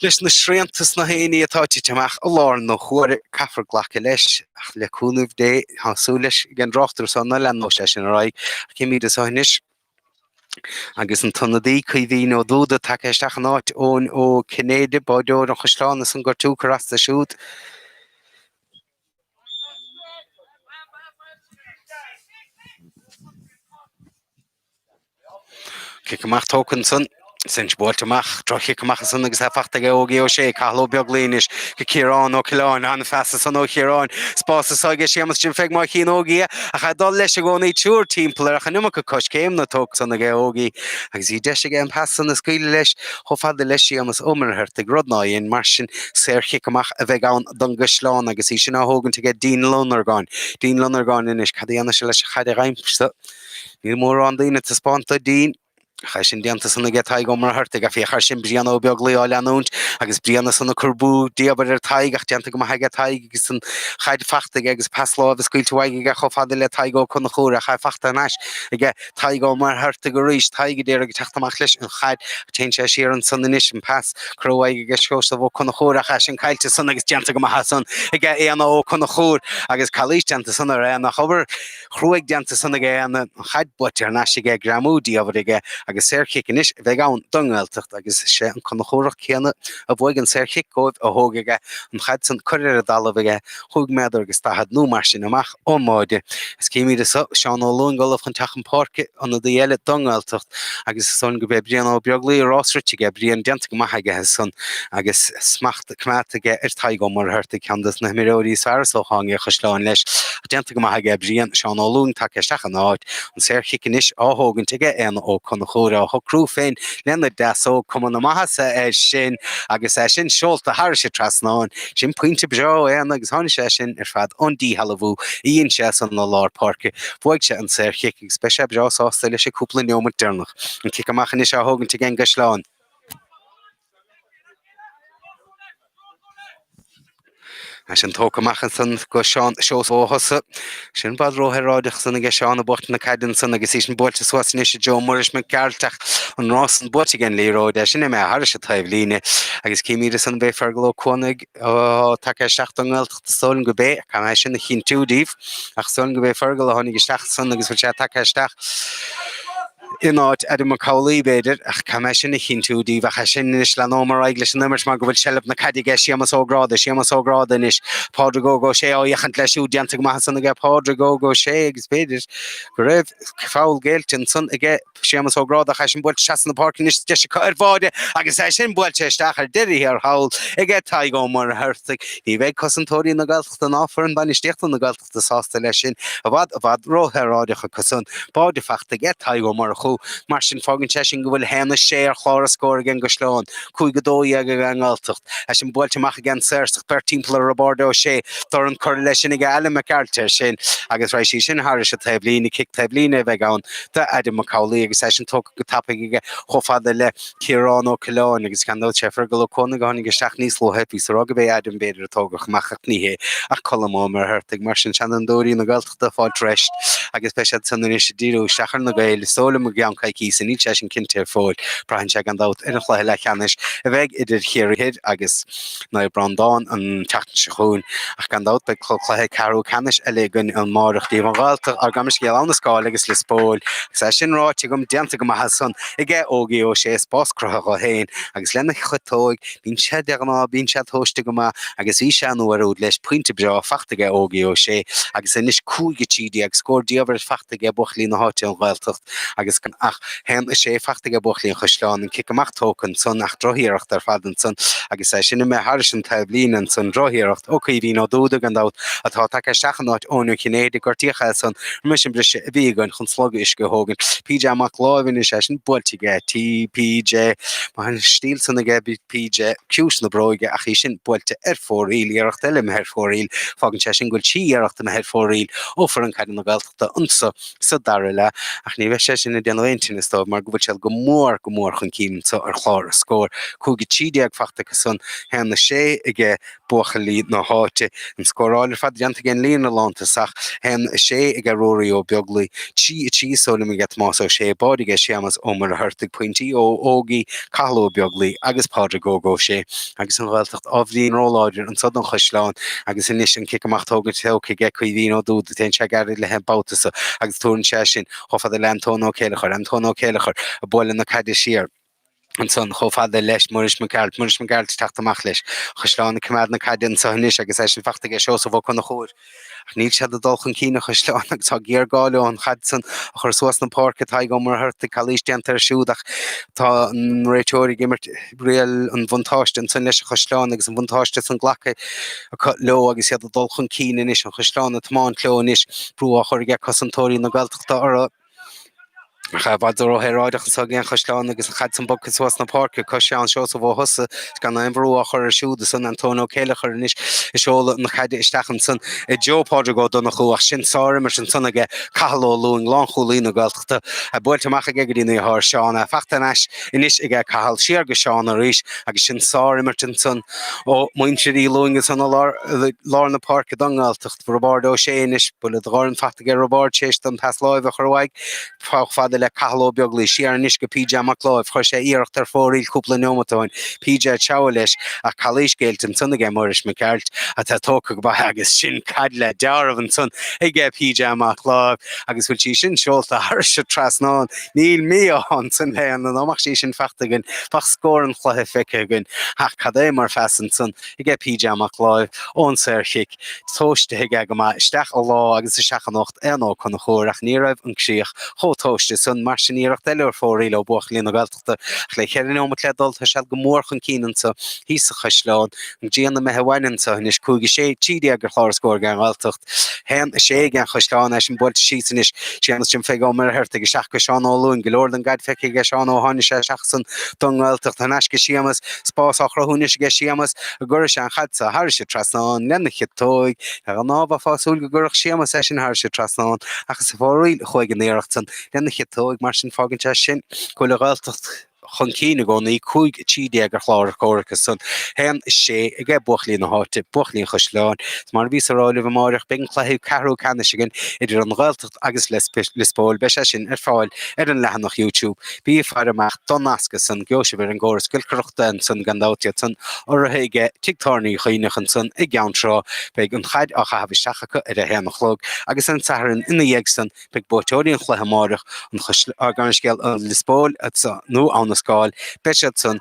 leis na srianta is na haonaigh atá tite amach i láthair na huaire, caithfear glacadh leis. Ach le cúnamh Dé, tá súil leis ag an dtráchtaire seo ná leanfadh sé sin ar aghaidh. Címid é seo anois. agus an t-ionadaí Caoimhín Ó Dubhda tagtha isteach in áit Eoin Ó Cinnéide, báireoir an Chaisleáin is an gortú ag cur as dó siúd. Cic amach tógtha ansan, í sin buailte amach, droch-chic amach ansan agus é fachta aige Óigí Ó Sé, Cathal Ó Beaglaoich anois go Ciarán Ó Coileáin, an-phas ansan ó Chiaráin, spás san aige Séamus Jim Pheig má chíonn Óigí é ach é ag dul leis i gcónaí, triúr timpeall air ach an iomarca coiscéimeanna tógtha san aige Óigí agus bhí deis aige an pas san a scaoileadh leis chomh fada le Séamus Ó Muircheartaigh, rud nár dhein mar sin saor-chic amach a bheidh ann. don gCaisleán agus í sin á thógaint aige, Dín Lonargáin. Dín Lonargáin anois, cad a dhéanfaidh sé leis an chaid dhainghse? Níl mórán daoine ag taispeáint do Dín. Ach é sin déanta san aige Tadhg Ó Muircheartaigh, féach air sin Brian Ó Beaglaoi á leanúint agus Brian ansan ag cur brú diamhair ar Tadhg ach déanta go maith aige Tadhg agus an chaid fachta aige agus pas láimhe scaoilte uaidh aige chomh fada le Tadhg Ó Conchúir an chaid fachta anois aige Tadhg Ó Muircheartaigh arís, Tadhg a d'iarraidh teacht amach leis an chaid. Téann sé siar ansan anois, an pas curtha uaidh aige Seosamh Ó Conchúir ach í sin caillte san agus déanta go maith as san aige Éanna Ó Conchúir agus calaois déanta san ar Éanna ach obair chruaidh déanta san aige Éanna, an chaid buaite thar n-ais aige, greamú diamhair aige agus saor-chic anois a bheidh ann don nGaeltacht agus sé an Conchúrach céanna a bhuaigh an saor-chic dhóibh a thógfaidh é an chaid san curtha ar an dtalamh aige 5 méadar agus 40 nó mar sin amach ón mbáide. Is címid é seo, Seán Ó Lúing, ollamh chun teacht chun páirce, ionadaí eile don nGaeltacht, agus is dócha gurb é Brian Ó Beaglaoi a rás rite aige, Brian déanta go maith aige as san agus smacht coimeádta aige ar Tadhg Ó Muircheartaigh, ceann de na himreoirí is fearr is dócha aige an gCaisleán leis, ach déanta go maith aige, Brian, Seán Ó Lúing tagtha isteach ina áit, an saorchic anois á thógaint aige, Éanna Ó Conchúir á shocrú féin lena dheasóg, cuma na maitheasa air sin agus é sin seolta thairis an trasnán. Sin pointe breá ó Éanna agus tháinig sé sin ar fad ón díshealbhú a dhein sé san i lár páirce. Bhuaigh sé an saorchic agus beidh sé breá sásta leis an gcúpla neomat deireanach. An cic amach anois á thógaint ag an gCaisleán. É sin tógtha amach ansan go Seán Seosamh Ó hEosa Sin i bhfad róshaoráideach san aige eisean ag buachtaint na caide ansan agus í sin buailte suas anois i dtreo Muiris Mac Gearailt ach an rás san buaite aige an liathróid í sin imithe thairis an taobhlíne agus címid ansan ab é Fergal Ó Cuanaigh atá tagtha isteach don nGaeltacht is dóigh liom gurb é caithfidh mé sin a chinntiú daoibh ach is dóigh liom gurb é Fergal a tháinig isteach san agus go bhfuil sé tagtha isteach in áit Adam Mac Amhlaoibh, b'fhéidir, ach caithfidh mé sin a chinntiú díbh ach é sin, anois leanóidh mé ar aghaidh leis an imirt mar go bhfuil seilbh na caide aige Séamas Ó Gráda, Séamas Ó Gráda anois, Pádraig Óg Ó Sé á fhéachaint leis siúd, déanta go maith ansan aige Pádraig Óg Ó Sé agus b'fhéidir go raibh feall géillte ansan aige Séamas Ó Gráda ach é sin buailte trasna na páirce anois deis acu ar bháide agus é sin buailte isteach ar deireadh thiar thall aige Tadhg Ó Muircheartaigh. Ní bheidh cosantóirí na Gaeltachta ná foireann bainistíochta na Gaeltachta sásta leis sin, i bhfad, i bhfad ró-shaoráideach acu san. Báide fachta aige Tadhg Ó Murchú, mar sin fágann sé sin go bhfuil 'haon is sé' ar chlár a scóir aige an gCaisleán, 'cúig a dó dhéag' aige an nGaeltacht, é sin buailte amach aige an Saorsach, beirt timpeall ar Roibeárd Ó Sé, dorn curtha leis sin aige Alan Mac Gearailt air sin agus raghaidh sé sin thairis an taobhlíne, cic taobhlíne a bheidh ann d'Adam Mac Amhlaoibh agus é sin tógtha go tapaidh aige chomh fada le Ciarán Ó Coileáin, agus gan dabht sé Fergal Ó Cuanaigh a tháinig isteach níos luaithe, bhíos ag rá go b'é Adam b'fhéidir a tógadh amach ach ní hé ach Colm Ó Muircheartaigh. Mar sin seanfhondúirí na Gaeltachta fáilt rest agus beidh siad san anois ag díriú isteach ar na Gaeil. Is dóigh liom i gceann coicíse, níl sé sin cinnte go fóill, braitheann sé gan dabht ar an chluiche leathcheannais a bheidh idir Chiarraí Thoir agus. Naomh Breandán an tseachtain seo chugainn, ach gan dabht beidh club cluiche ceathrú ceannais eile againn amáireach díobh an Ghaeltacht ár gam scéal Abhainn an Scáil agus Lios Póil. Agus é sin ráite agam déanta go maith ansan aige Ógie Ó Sé spás cruthaithe dhó féin agus lena chiotóig. Bíonn sé de ghnáth bíonn sé tomhaiste go maith agus bhí sé an uair úd leis pointe breá fachta aige Ógie Ó Sé agus anois cúig a trí déag scór diamhair fachta aige buachaillí na háite an Ghaeltacht. agus gan ach haon is sé fachta aige buachaillí an Chaisleáin an cic amach tógtha ansan ach drochiarracht ar fad ansan agus é sin imithe thairis an taobhlíne ansan, drochiarracht, ó Chaoimhín Ó Dúda gan dabht, atá tagtha isteach in áit Eoin Ó Cinnéide, gortaíodh é ansan roimis an briseadh a bhí againn chun slogadh uisce a thógaint, PJ Mac Láimh is é sin buailte aige, T, PJ, má théann an stíl san aige, PJ, ciumhais na bróige ach í sin buailte ar fóraoil, iarracht eile imithe ar fóraoil, fágann sé sin go bhfuil trí iarracht imithe ar fóraoil ó foireann caide na Gaeltachta. Gaeltachta anseo sa dara leath ach ní bheidh sé sin ag déanamh aon tinneas dóibh mar go bhfuil siad go mór, go mór chun cinn anseo ar chlár a scóir. 5-13 fachta acusan, 1-6 ag buachaillí na háite. An scóráil ar fad déanta ag an líne lántosach 1-6 ag Ruairí Ó Beaglaoi, 3-3 is dóigh liom ag Tomás Ó Sé, báide ag Séamas Ó Muircheartaigh, pointí ó Ógie, Cathal Ó Beaglaoi agus Pádraig Óg Ó Sé. agus an Ghaeltacht ábhairín róláidir anseo don Chaisleán agus anois an cic amach tógaint tógtha aige Caoimhín Ó Dúda téann sé gairid leis an babhta so agus tabharann sé sin chomh fada le Antóin Ó Céilleachair Antóin Ó Céilleachair ag bualadh na caide siar ansan chomh fada le Muiris Mac Gearailt Muiris Mac Gearailt teacht amach leis an Chaisleán ag coimeád na caide anseo anois agus é sin fachta aige Seosamh Ó Conchúir Ach níl siad ag dul chun cinn, an Chaisleán, agus tá géarghá leo an chaid san a chur suas na páirce. Tadhg Ó Muircheartaigh, calaois déanta air siúd, ach tá an réiteoir ag imirt riail an bhuntáiste ansan leis an Chaisleán agus an bhuntáiste san glactha acu leo agus iad ag dul chun cinn anois. An Chaisleán ag tiomáint leo anois, brú á chur ag cosantóirí na Gaeltachta orthu. Ach i bhfad róshaoráideach anseo aige an Chaisleán agus an chaid san bogtha suas na páirce go Seán Seosamh Ó Husa is gan aon bhrú á chur air siúd ansan. Antóin Ó Céileachair anois is seoladh na caide isteach ansan i dtreo Phádraig Ó Donnchú ach sin sár-imirt ansan aige, Cathal Ó Lúing, lánchúlaí na Gaeltachta, é buailte amach aige go dtína dheartháir, Seán, é faighte ar ais anois aige, Cathal. Siar go Seán arís agus sin sár-imirt ansan ó mhuintir Uí Lúing ansan i lár na páirce don nGaeltacht. Roibeárd Ó Sé anois. Buille de dhorn faighte aige Roibeárd, théis don pas láimhe a chur uaidh. Chomh fada le Cathal Ó Beaglaoi. Siar anois go PJ Mac Láimh. Chuir sé iarracht ar fóraoil cúpla neomat ó shin. PJ a treabhadh leis, ach callaois géillte ansan aige, Muiris Mac Gearailt, atá tógtha go maith agus sin caid le dealramh ansan aige PJ Mac Láimh, agus bhfuil sí sin seolta thairis trasnán? Níl mí-ádh ansan leo, dá mbeadh sí sin faighte againn bheadh scór an chluiche feicthe againn. Ach cad é mar phas ansan aige PJ Mac Láimh, ón saor chic. tomhaiste aige go maith isteach i lár agus isteach in ucht Éanna Ó Conchúir ach ní raibh an críoch chomh tomhaiste sin mar sin iarracht eile ar fóraoil ó bhuachaillí na Gaeltachta ach le cheithre neomat le dul tá siad go mór chun cinn anseo thíos sa chaisleán go dtí an a mbeidh a bhain anseo anois 5 13 ar chlár a scór don Ghaeltacht 1 6 don Chaisleán é sin buailte síos anois séamus Jim Pheig Ó Muircheartaigh isteach go Seán Ó Lúing go leor den gcaid feicthe aige Seán ó tháinig sé isteach ansan don Ghaeltacht anois aige séamus spás á chruthú anois aige Séamas go gcuirfidh sé an chaid seo thairis trasnán lena chiotóig. De ghnáth bheifeá ag súil go gcuirfeadh Séamas é sin thairis trasnán ach is ar fóraoil a chuaigh an iarracht san lena chiotóig mar sin fágann sé sin go bhfuil an Ghaeltacht chun cinn i gcónaí, 5 13 ar chlár a scór acu san. Haon sé aige buachaillí na háite, buachaillí an Chaisleáin. Is mar a bhíos a rá libh amáireach, beidh an cluiche ceathrú ceannais againn idir an Ghaeltacht, agus Lios Póil, beidh sé sin ar fáil ar an leathanach YouTube. Bí ag faire amach don nasc ansan, gheobhaidh sibh ar an gcóras giolcaireachta ansan gan dabht iad san, urraithe aige Tigh Tábhairne Uí Chuinn ansan i gCeann Trá. Beidh an chaid á chaitheamh isteach acu ar a haon a chlog agus ar an Satharn ina dhiaidh san, beidh buaiteoirí an chluiche amáireach, an Garniscéal, Lios Póil, nó Abha na Scáil, beidh siad san.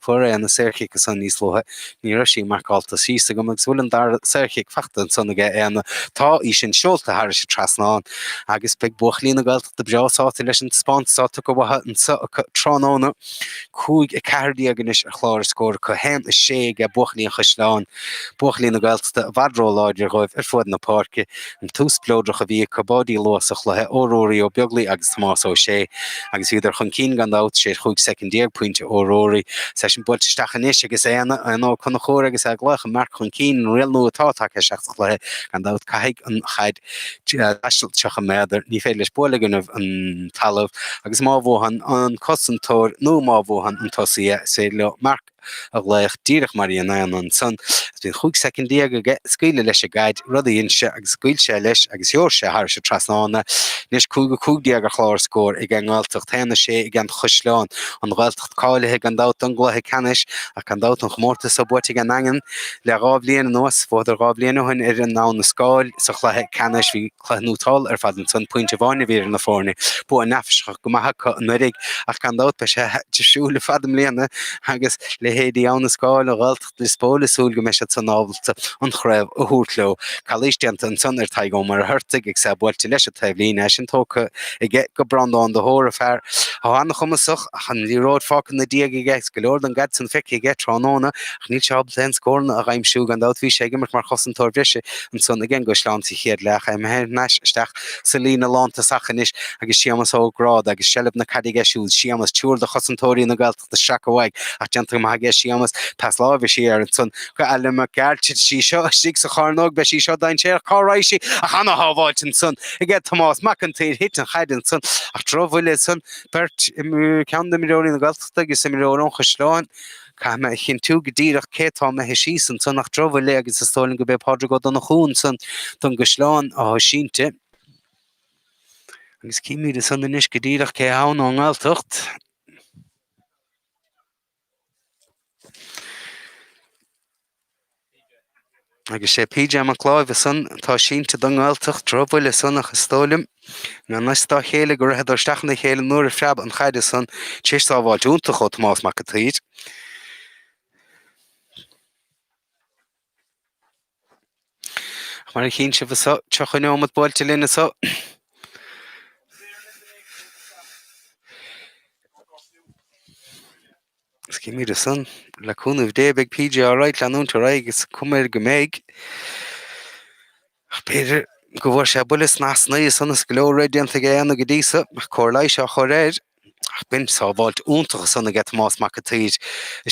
Fuair Éanna saorchic ansan níos luaithe. Ní raibh sí marcálta síos agam agus bhfuil an dara saorchic faighte ansan aige Éanna. Tá í sin seolta thairis an trasnán. Agus beidh buachaillí na Gaeltachta breá sásta leis an taispeántas atá tugtha uathu anso acu tráthnóna. Cúig a ceathair déag anois ar chlár a scór acu. Haon a sé age buachaillí an Chaisleáin. Buachaillí na Gaeltachta i bhfad ró-láidir dhóibh ar fuad na páirce. an tús spleodrach a bhí acu, báidí luath sa chluiche ó Ruairí Ó Beaglaoi agus Tomás Ó Sé agus bhíodar chun cinn gan dabht, théis chúig soicind déag, pointe ó Ruairí. Is é sin buailte isteach anois agus Éanna, Éanna Ó Conchúir agus é ag glaoch an marc chun cinn, an riail nua atá tagtha isteach sa chluiche gan dabht. Caithfidh an chaid taisteal tríocha méadar, ní féidir leis bualadh i gcoinnibh an talamh agus má bhuann an cosantóir nó má bhuann an tosaí é, is féidir leo marc. a ghlaoch díreach mar a dhein Éanna ansan, agus bíonn chúig soicind déag aige scaoileadh leis an gcaid, rud a dhein sé, agus scaoil sé leis agus sheol sé thairis an trasnán é. Anois, cúig a cúig déag ar chlár scóir aige an nGaeltacht, a haon a sé aige an gCaisleán, an Ghaeltacht cáilithe gan dabht don gcluiche ceannais, ach gan dabht an chomórtas so buaite ag an nDaingean le dhá bhliain anuas. Bhuadar dhá bhliain ó shin ar an Abhainn an Scáil sa chluiche ceannais. Bhí. Cluiche iontach ar fad ansan. Pointe amháin a bhí idir na foirne. Bua neafaiseach go maith acu anuiridh ach gan dabht beidh sé difriúil ar fad i mbliana agus leithéidí Abhainn an Scáil, an Ghaeltacht, Lios Póil ag súil go mbeidh siad san ábalta an chraobh a thabhairt leo. Calaois déanta ansan ar Tadhg Ó Muircheartaigh agus é buailte leis an taobhlíne, í sin tugtha aige go Breandán de hÓra, fear an-chumasach ach an liathróid fágtha 'na dhiaidh aige agus go leor don gcaid san feicthe aige tráthnóna. Ach níl sé ábalta aon scóranna a aimsiú, gan dabht. Bhí sé ag imirt mar chosantóir breise ansan aige an gCaisleán sa chéad leath ach é imithe thar n-ais isteach sa líne lántosach anois agus Séamas Ó Gráda agus seilbh na caide aige siúd. Séamas, triúr de chosantóirí na Gaeltachta seaca uaidh ach déanta go maith aige Séamas. Pas láimhe siar ansan go Alan Mac Gearailt. Titfidh sí seo istigh sa chearnóg. Beidh sí seo dainséarach. Cá raghadh sí ach an-shábháilt ansan aige Tomás Mac an tSaoir. Thit an chaid ansan ach drochbhuille ansan. Beirt, ceann d'imreoirí na Gaeltachta agus imreoir ón gCaisleán. Caithfidh mé a chinntiú go díreach cé atá imithe síos ansan ach drochbhuille agus is dóigh liom gurb é Pádraig Ó Donnchú ansan don gCaisleán atá sínte. Agus cífimid ansan anois go díreach cé atá ann ón nGaeltacht. Agus sé PJ Mac Láimh é san atá sínte don nGaeltacht, drochbhuille san ach is dóigh liom gurb i ngan fhios dá chéile go ritheadar isteach ina chéile nuair a phreab an chaide san tréis sábháilt iontach ó Thomás Mac an tSaoir. Ach mar a chíonn sibh anso, seo chugainn amach buailte linn anso. Is cífimid ansan le cúnamh Dé beidh PJ alright leanúint ar aghaidh is cuma air go mbeidh. Ach b'fhéidir go bhfuair sé buille sna heasnaí ansan is go leor rith déanta aige inniu go dtí so, ach cóir leighis á chur air. Ach b'in sábháilt iontach ansan aige Tomás Mac an tSaoir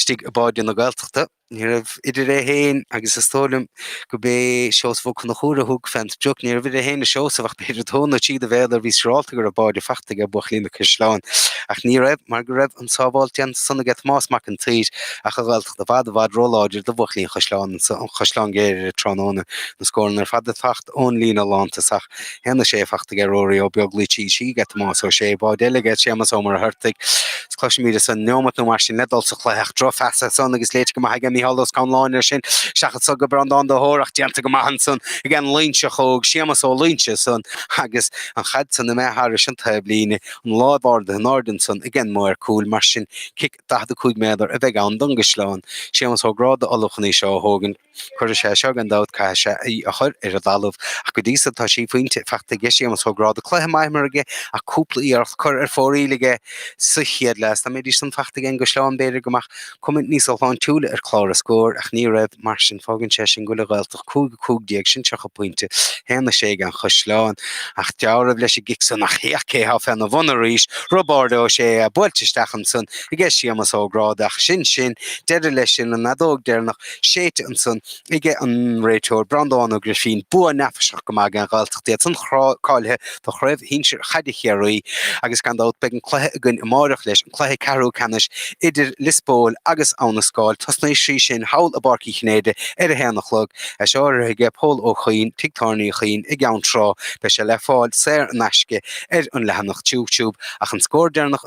istigh i mbáide na Gaeltachta. Ní raibh idir é féin agus is dóigh liom gurb é Seosamh Ó Conchúir a thug fén sprioc, ní raibh idir é féin is Seosamh ach b'fhéidir dó nó trí de mhéadair, bhí siúrálta go raibh báide fachta aige buachaillí an Chaisleáin. Ach ní raibh, mar go raibh an sábháilt déanta ansan aige Tomás Mac an tSaoir ach an Ghaeltacht i bhfad, i bhfad róláidir do bhuachaillí an Chaisleáin, Chaisleán Ghriaire tráthnóna, na scóranna ar fad ag teacht ón líne lántosach. Théann na sé fachta ag Ruairí Ó Beaglaoich, tríd tríd, ag Tomás Ó Sé, Báid Eilge, ag Séamas Ó Muircheartaigh, is cloisimíd ansan neomat nó mar sin le dul sa chluiche, ach drochphas ansan agus léite go maith ag Mícheál Ó Scanláin air sin, seachadadh go Breandán de hÓir, ach déanta go maith ansan ag an Loingseach óg, Séamas Ó Loingsigh, ansan agus an chaid ansan imithe thairis an taobhlíne, an lámh ardaithe in airde ansan ag an maor cúil, mar sin cic 45 méadar a bheidh ann don gCaisleán, Séamas Ó Gráda, ollamh chun í seo a thógaint. Cuirfidh sé seo, gan dabht, caithfidh sé í a chur ar an dtalamh, ach go dtí seo tá sé phointe faighte aige, Séamas Ó Gráda cluiche maith imeartha aige ach cúpla iarracht curtha ar fóraoil aige sa chéad leath. Dá mbeidís san faighte aige an gCaisleán b'fhéidir go mbeadh cuma níos shláintiúla ar chlár na scór, ach ní raibh. Mar sin fágann sé sin go bhfuil an Ghaeltacht 5 15 sin 30 pointe, 1 6 ag an gCaisleán, ach dealramh leis an gcic san ach féach cé atá féna bhun arís, Roibeárd Ó Sé é buailte isteach ansan aige Séamas Ó Gráda, ach sin sin, deireadh leis sin, an fheadóg deireanach. séidte ansan aige an réiteoir Breandán Ó Grifín, bua neafaiseach go maith ag an Ghaeltacht iad san cáilithe do chraobh shinsir chaide Chiarraí agus gan dabht beidh an cluiche againn amáireach leis, an cluiche ceathrú ceannais idir Liospóil agus Abha na Scáil. Tosnóidh sí sin thall i bPáirc Uí Chinnéide ar a haon a chlog. Is urraithe aige Pól Ó Cuinn, Tigh Tábhairne Uí Chuinn i gCeann Trá, beidh sé le fáil saor in aisce ar an leathanach YouTube ach an scór deireanach